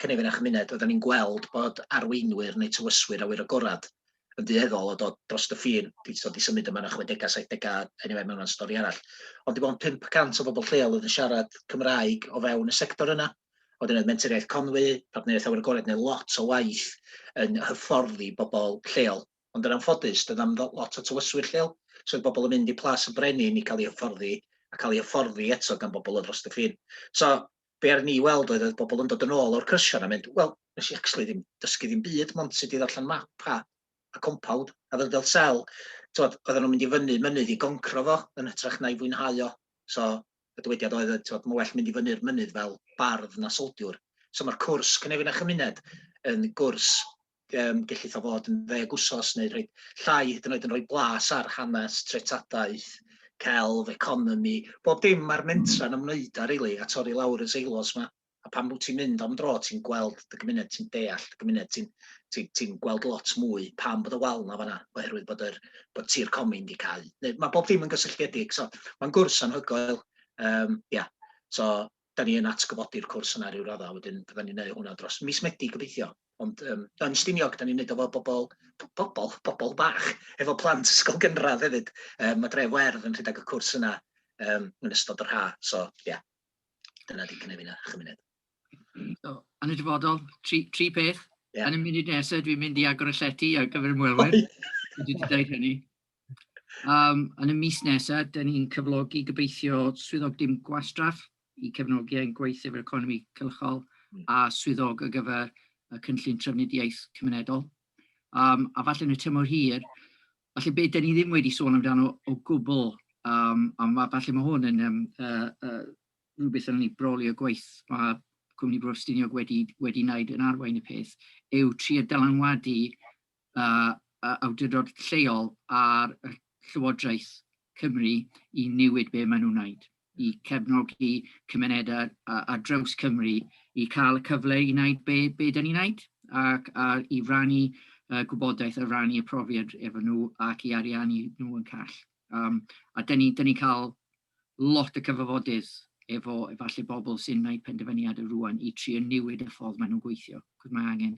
Speaker 2: cynefin a chymuned, oedden ni'n gweld bod arweinwyr neu tywyswyr awyr agored yn dueddol o dod drost y ffin, di, so di symud yma yn y chwedegau, saithdegau, anyway, mae hwnna'n stori arall. Ond dim ond 500 o bobl lleol oedd yn siarad Cymraeg o fewn y sector yna. Oedd yna menteriaeth Conwy, partneriaeth awyr agored, neu lot o waith yn hyfforddi bobl lleol. Ond yn anffodus, doedd am lot o tywyswyr lleol, so oedd bobl yn mynd i Plas y Brenin i cael ei hyfforddi, a cael ei hyfforddi eto gan bobl o dros y ffin. So, be ar ni weld oedd oedd bobl yn dod yn ôl o'r cyrsiau na mynd, wel, nes i actually ddim dysgu ddim byd, mond sut i ddarllen map a, a compawd, a fel fel sel, tywed, oedden nhw'n mynd i fyny mynydd i goncro fo, yn hytrach na i fwynhau o. So, y dywediad oedd, tywed, mae well mynd i fyny'r mynydd fel bardd na soldiwr. So mae'r cwrs Cynefin a Chymuned yn gwrs um, gellith o fod yn ddeg wsos neu rhoi llai hyd yn oed yn rhoi blas ar hanes, treftadaeth, celf, economi, bob dim mae'r mentra yn ymwneud â rili, a torri lawr y seilos yma. A pan wyt ti'n mynd am dro, ti'n gweld dy gymuned, ti'n deall dy gymuned, ti'n ti, ti gweld lot mwy pam bod y wal yna fanna, oherwydd bod, yr, bod tir comin di cael. Neu, mae bob dim yn gysylltiedig, so mae'n gwrs anhygoel. Um, yeah. So, 'da ni yn atgyfodi'r cwrs yna ryw radda, wedyn fyddan ni'n neud hwnna dros mis Medi gobeithio, ond yym yn Stiniog 'da ni'n neud o 'fo bobol p- bobol bobol bach efo plant ysgol gynradd hefyd yym ma' Dref Werdd yn rhedag y cwrs yna yym yn ystod yr ha', so ia dyna 'di cynefin a chymuned. So,
Speaker 4: yn y dyfodol, tri, tri peth. Yeah. Yn y munud nesaf dwi'n mynd i agor y llety ar gyfer ymwelwyr. Dwi wedi dweud hynny. Um, yn y mis nesaf, dyn ni'n cyflogi gobeithio swyddog dim gwastraff i cefnogi ein gweith efo'r economi cylchol hmm. a swyddog ar gyfer y cynllun trafnidiaeth cymunedol. Um, a falle yn y tymor hir, falle beth dyn ni ddim wedi sôn amdano o gwbl, um, a ma, falle mae hwn yn um, uh, uh, rhywbeth yn ni brolio gweith mae Cwmni Brostiniog wedi, wedi wneud yn arwain y peth, yw tri dylanwadu awdurdod lleol a'r Llywodraeth Cymru i newid be maen nhw'n wneud, i cefnogi cymunedau ar draws Cymru i cael y cyfle i wneud be, be da ni'n wneud ac a, i rannu uh, gwybodaeth, a rannu y profiad efo nhw ac i ariannu nhw yn call. Um, a da ni'n ni cael lot o cyfarfodydd efo efallai bobl sy'n gwneud penderfyniadau rwan i trio newid y ffordd maen nhw'n gweithio, cos mae angen.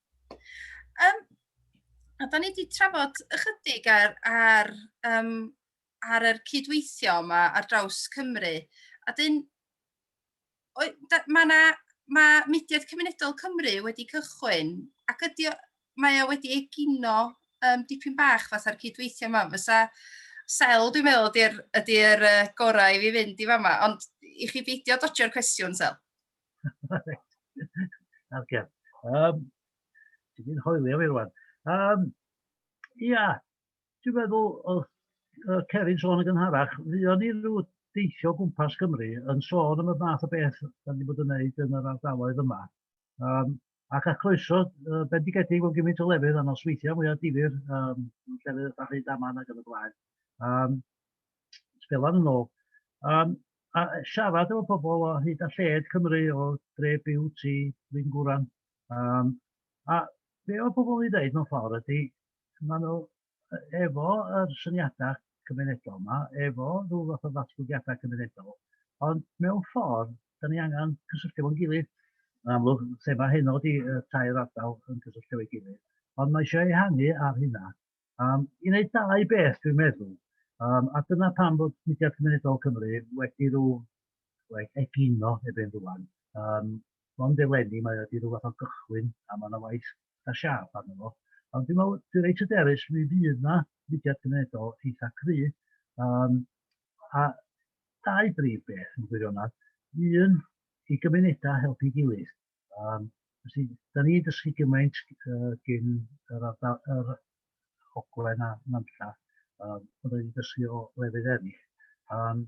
Speaker 1: Um, a da ni wedi trafod ychydig ar, ar, um, ar yr cydweithio yma ar draws Cymru. A dyn, mae yna mae mudiad cymunedol Cymru wedi cychwyn ac ydy, mae o wedi egino um, dipyn bach fatha'r cydweithio yma. Fysa sel, dwi'n meddwl, ydy'r ydy uh, gorau i fi fynd i fama, ond i chi beidio dodio'r cwestiwn, sel.
Speaker 5: Ocê. Yym, ti di'n hoelio fi rwan. Yym, ia, dwi'n meddwl oedd yy Ceri'n sôn yn gynharach, fuon ni ryw deithio o gwmpas Cymru yn sôn am y math o beth 'dan ni bod yn wneud yn yr ardaloedd yma. Yym, Ac a croeso uh, bendigedig mewn gymaint o lefydd a nosweithiau mwyaf difyr, um, llefydd fatha Rhyd Aman ac yn y blaen. Um, Sbelan yn ôl. Um, a siarad efo pobl o hyd a lled Cymru o dre byw ti Lyn Gwran. Um, a be o pobl i ddeud mewn ffordd ydy, maen nhw efo yr syniadau cymunedol yma, efo rhyw fath o ddatblygiadau cymunedol, ond mewn ffordd, da ni angen cysylltu fo'n gilydd. Yn amlwg, thema heno ydy y tair ardal yn cysylltu ei gilydd, ond mae eisiau ehangu ar hynna. Um, I wneud dau beth, dwi'n meddwl, um, a dyna pam bod Mudiad Cymunedol Cymru wedi rhyw like, egino erbyn rwan, um, mond eleni, mae wedi rhyw fath o gychwyn a mae yna waith eitha' siâp arno fo. Ond dwi'n meddwl, dwi reit hyderus, mi fydd yna fudiad cymunedol eitha' cry', yym a dau brif beth yn gwirionedd, un i gymunedau helpu'i gilydd, yym felly 'dan ni'n dysgu gymaint yy gin yr ardal yr Ogwen a Nantlla, yym ond 'dan ni'n dysgu o lefydd eraill.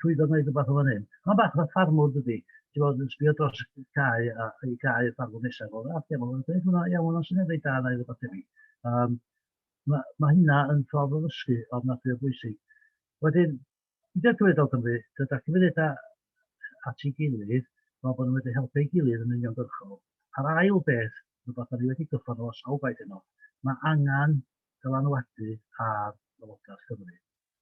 Speaker 5: llwyddo wneud rhywbeth o fan hyn. Mae'n bach fatha ffarmwr dydy, ti'n bod yn sbio dros y cae a i gae y ffarmwr nesaf, o, a lle mae'n dweud hwnna, iawn, hwnna'n syniad ei da neu rhywbeth tebyg. Um, mae, mae hynna yn ffordd o ddysgu ofnadwy o bwysig. Wedyn, gyda'r cyfredol Cymru, gyda cyfredau at ei gilydd, fel bod nhw wedi helpu ei gilydd yn uniongyrchol. A'r ail beth, rhywbeth o'n i wedi gyffon o sawl gwaith yno, mae angen dylanwadu ar Lywodraeth Cymru.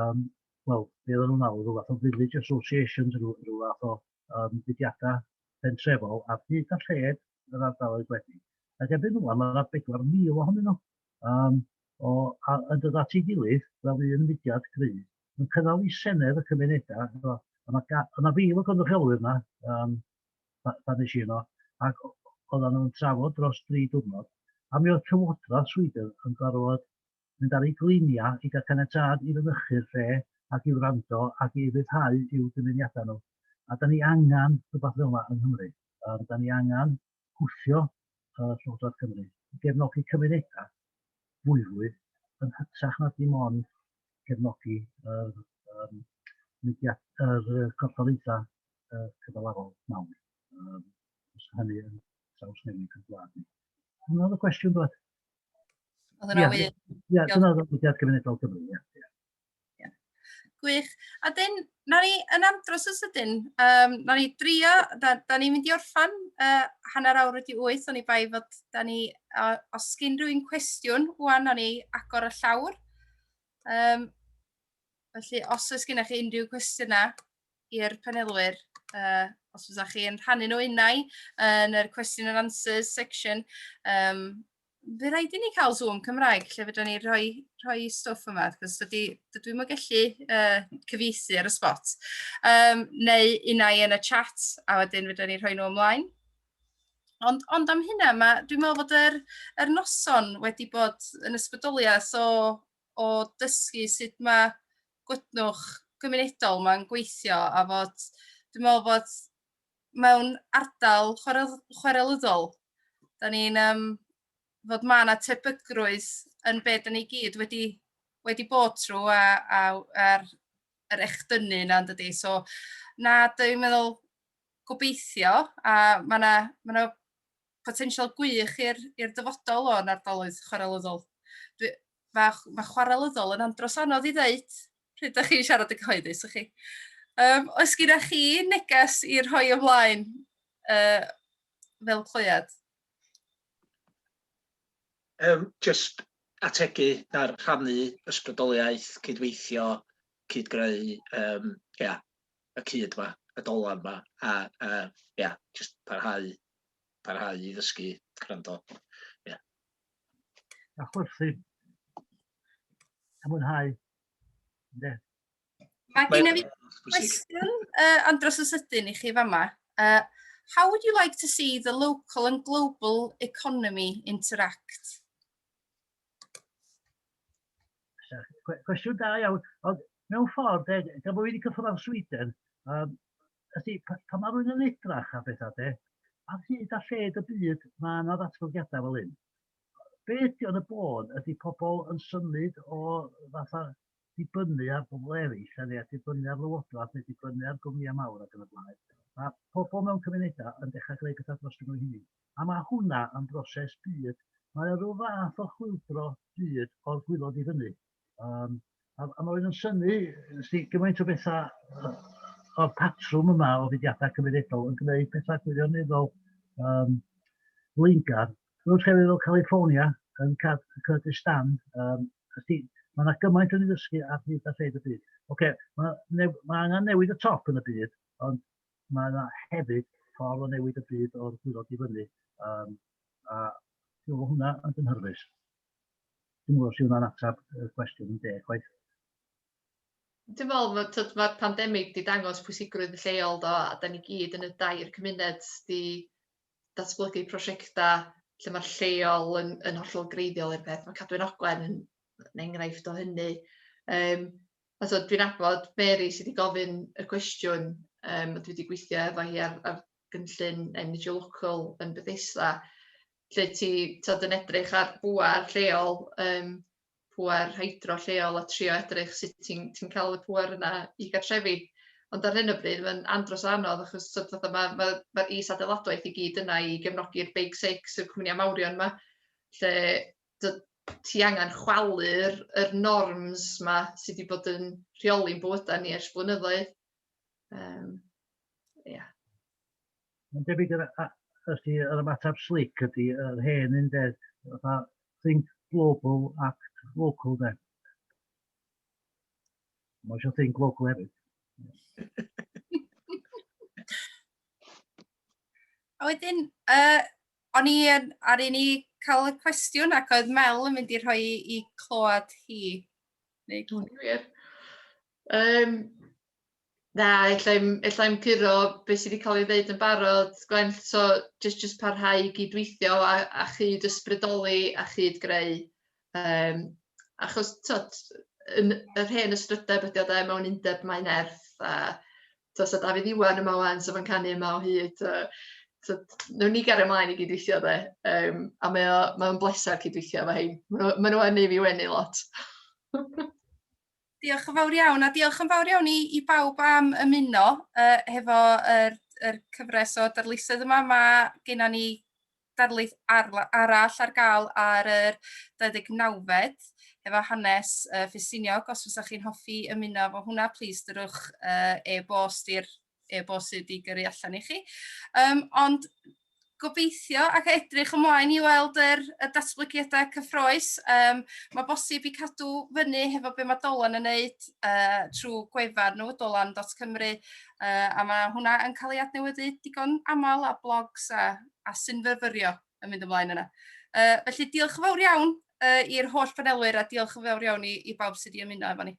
Speaker 5: yym wel be oedden nhw'n alw ryw fath o village associations ryw ryw fath o yym fudiadau pentrefol ar hyd a lled yr ardaloedd gwledig. Ac erbyn rŵan mae yna 4,000 ohonyn nhw um, o, a, yn dod at ei gilydd fel un mudiad gryf yn cynnal i Senedd y Cymunedau. So, a mae ga, yna fil o gynrychiolwyr yna um, pan nes i yno ac oedden nhw'n trafod dros dri diwrnod a mi oedd Cyfodraeth Sweden yn gorfod mynd ar ei gliniau i gael caniatâd i fynychu'r lle ac i wrando ac i ryddhau i'w dymuniadau nhw. A 'dan ni angen rhywbeth fel 'na yng Nghymru. Yym 'dan ni angen gwthio yy Llywodraeth Cymru i gefnogi cymunedau fwyfwy yn hytrach na dim ond cefnogi yr yym mudiad- yr yy corfforaethau yy cyfalafol mawr. Yym os hynny yn trawsnewid ein gwlad ni. Hwnna oedd y cwestiwn doedd? Oedd hwnna
Speaker 1: wir? Ie, dyna oedd mudiad
Speaker 5: gymunedol Cymru, ie. Yeah. Yeah.
Speaker 1: Gwych. A dyn, na ni yn amdros y sydyn, um, na ni drio, da, da ni'n mynd i orffan uh, hanner awr wedi wyth, o'n i bai fod da ni, uh, os gyn rhywun cwestiwn, wwan o'n i agor y llawr. Um, felly, os oes gennych chi unrhyw cwestiynau, i'r panelwyr, uh, os fysa chi yn rhannu nhw unau yn yr question and answers section. Um, fe rhaid i ni cael Zoom Cymraeg lle fydra ni rhoi, rhoi stwff yma, cos dydy, dydw i'n gallu uh, cyfieithu ar y spot. Um, neu unau yn y chat, a wedyn fydra ni rhoi nhw ymlaen. Ond, ond am hynna, mae, dwi'n meddwl bod yr, yr noson wedi bod yn ysbrydoliaeth o, o dysgu sut mae gwytnwch gymunedol ma'n gweithio a fod dwi'n me'wl bod mewn ardal chwarel- chwarelyddol 'dan ni'n yym fod ma' 'na tebygrwydd yn be' 'dan ni gyd wedi wedi bod trw' a a a'r yr echdynnu 'na yndydi? So na dwi'n meddwl gobeithio a ma' 'na ma' 'na potensial gwych i'r i'r dyfodol o'n ardaloedd chwarelyddol. Dwi mae ma chwarelyddol yn andros anodd i ddeud pryd ydych chi'n siarad yn cyhoeddus, ych chi? Um, oes gyda chi neges i rhoi ymlaen uh, fel clwyad? Um,
Speaker 2: just ategu ar rhannu ysbrydoliaeth, cydweithio, cydgreu, um, yeah, y cyd yma, y dolan yma, a, a yeah, just parhau, parhau i ddysgu, gwrando. Yeah.
Speaker 5: a chwerthin. A mwynhau. Ynde?
Speaker 1: Mae gen i fi cwestiwn uh, andros o sydyn i chi fama. Uh, how would you like to see the local and global economy interact?
Speaker 5: Cwestiwn da iawn, ond mewn ffordd, e, gan bod wedi cyffwrdd â'r Sweden, um, Felly, pan mae rhywun yn edrach ar bethau de, ar hyd a lled y byd mae yna ddatblygiadau fel hyn. Be ydy o'n y bôn? Ydy pobl yn symud o fatha dibynnu ar bobl eraill, a neu dibynnu ar lywodraeth, neu dibynnu ar gwmnïau mawr ac yn y blaen. Mae pobl mewn cymunedau yn dechrau gwneud pethau dros nhw'n hynny. A mae hwnna yn broses byd. Mae o rhyw fath o chwildro byd o'r gwylod i fyny. Um, a, a mae wedi yn syni si, gymaint o bethau o'r patrwm yma o fudiadau cymunedol yn gwneud pethau gwirioneddol um, flaengar. Rwy'n llefydd o California yn Kurdistan, um, mae yna gymaint o'n i ddysgu ar hyd a lleid y byd. Oce, okay, mae, ne, mae angen newid y top yn y byd, ond mae yna hefyd ffordd o newid y byd o'r gwirod i fyny. Um, a hwnna yn dynhyrfus. Dwi'n gwybod sydd hwnna'n ateb y cwestiwn yn deg chwaith.
Speaker 3: Dwi'n meddwl mae tyd, mae'r pandemig wedi dangos pwysigrwydd y lleol do, a da ni gyd yn y dair cymuned wedi datblygu prosiectau lle mae'r lleol yn, yn hollol greiddiol i'r peth. Mae Cadwyn Ogwen yn, yn enghraifft o hynny. Um, a so, dwi'n abod Mary sydd wedi gofyn y cwestiwn, um, dwi wedi gweithio efo hi ar, ar gynllun NGO Local yn Bethesda, lle ti t'od yn edrych ar bŵer lleol yym pŵer hydro lleol a trio edrych sut ti'n ti'n ca'l y pŵer yna i gartrefi ond ar hyn o bryd ma'n andros o anodd achos t'od fatha ma' ma' ma'r is-adeiladwaith i gyd yna i gefnogi'r big six y cwmnia mawrion 'ma lle t'od ti angan chwalu'r yr norms 'ma sy' 'di bod yn rheoli'n bywyda ni ers blynyddoedd yym ia.
Speaker 5: Mae'n debyg yr a- os ti yr ymateb slic ydy yr hen un de, fatha think global, act local de. Mae eisiau think local hefyd.
Speaker 1: A wedyn, uh, o'n i yn, ar un i cael y cwestiwn ac oedd Mel yn mynd i rhoi i clywed hi. Neu... Dwi'n
Speaker 3: wir. Yym na, ella i'm ella i'm curo be' sy' 'di ca'l 'i ddeud yn barod Gwen so jyst jyst parhau i gyd-weithio a a chyd-ysbrydoli a chyd-greu yym achos t'od yn yr hen ystrydeb ydi o 'de mewn undeb mae nerth a t'o' so Dafydd Iwan yma ŵan so ma'n canu yma o hyd yy t'od newn ni gario mlaen i gyd-weithio 'de yym a mae o mae o'n bleser cyd-weithio efo rhein ma' n'w ma' n'w yn neu' fi wenu lot.
Speaker 1: Diolch yn fawr iawn, a diolch yn fawr iawn i, i bawb am ymuno uh, hefo yr, yr cyfres o darlithoedd yma. Mae gennym ni darlith ar, arall ar gael ar yr 29fed efo hanes uh, Ffesiniog. Os fysa chi'n hoffi ymuno efo hwnna, plis dyrwch uh, e-bost i'r e-bost sydd wedi gyrru allan i chi. Um, ond gobeithio ac edrych ymlaen i weld yr, y datblygiadau cyffroes. Um, mae bosib i cadw fyny hefo be mae Dolan yn neud uh, trwy gwefan nhw, dolan.cymru, uh, a mae hwnna yn cael ei adnewyddu digon aml a blogs a, a synfyfyrio yn mynd ymlaen yna. Uh, felly diolch yn fawr iawn uh, i'r holl panelwyr a diolch yn fawr iawn i, i bawb sydd wedi ymuno efo ni.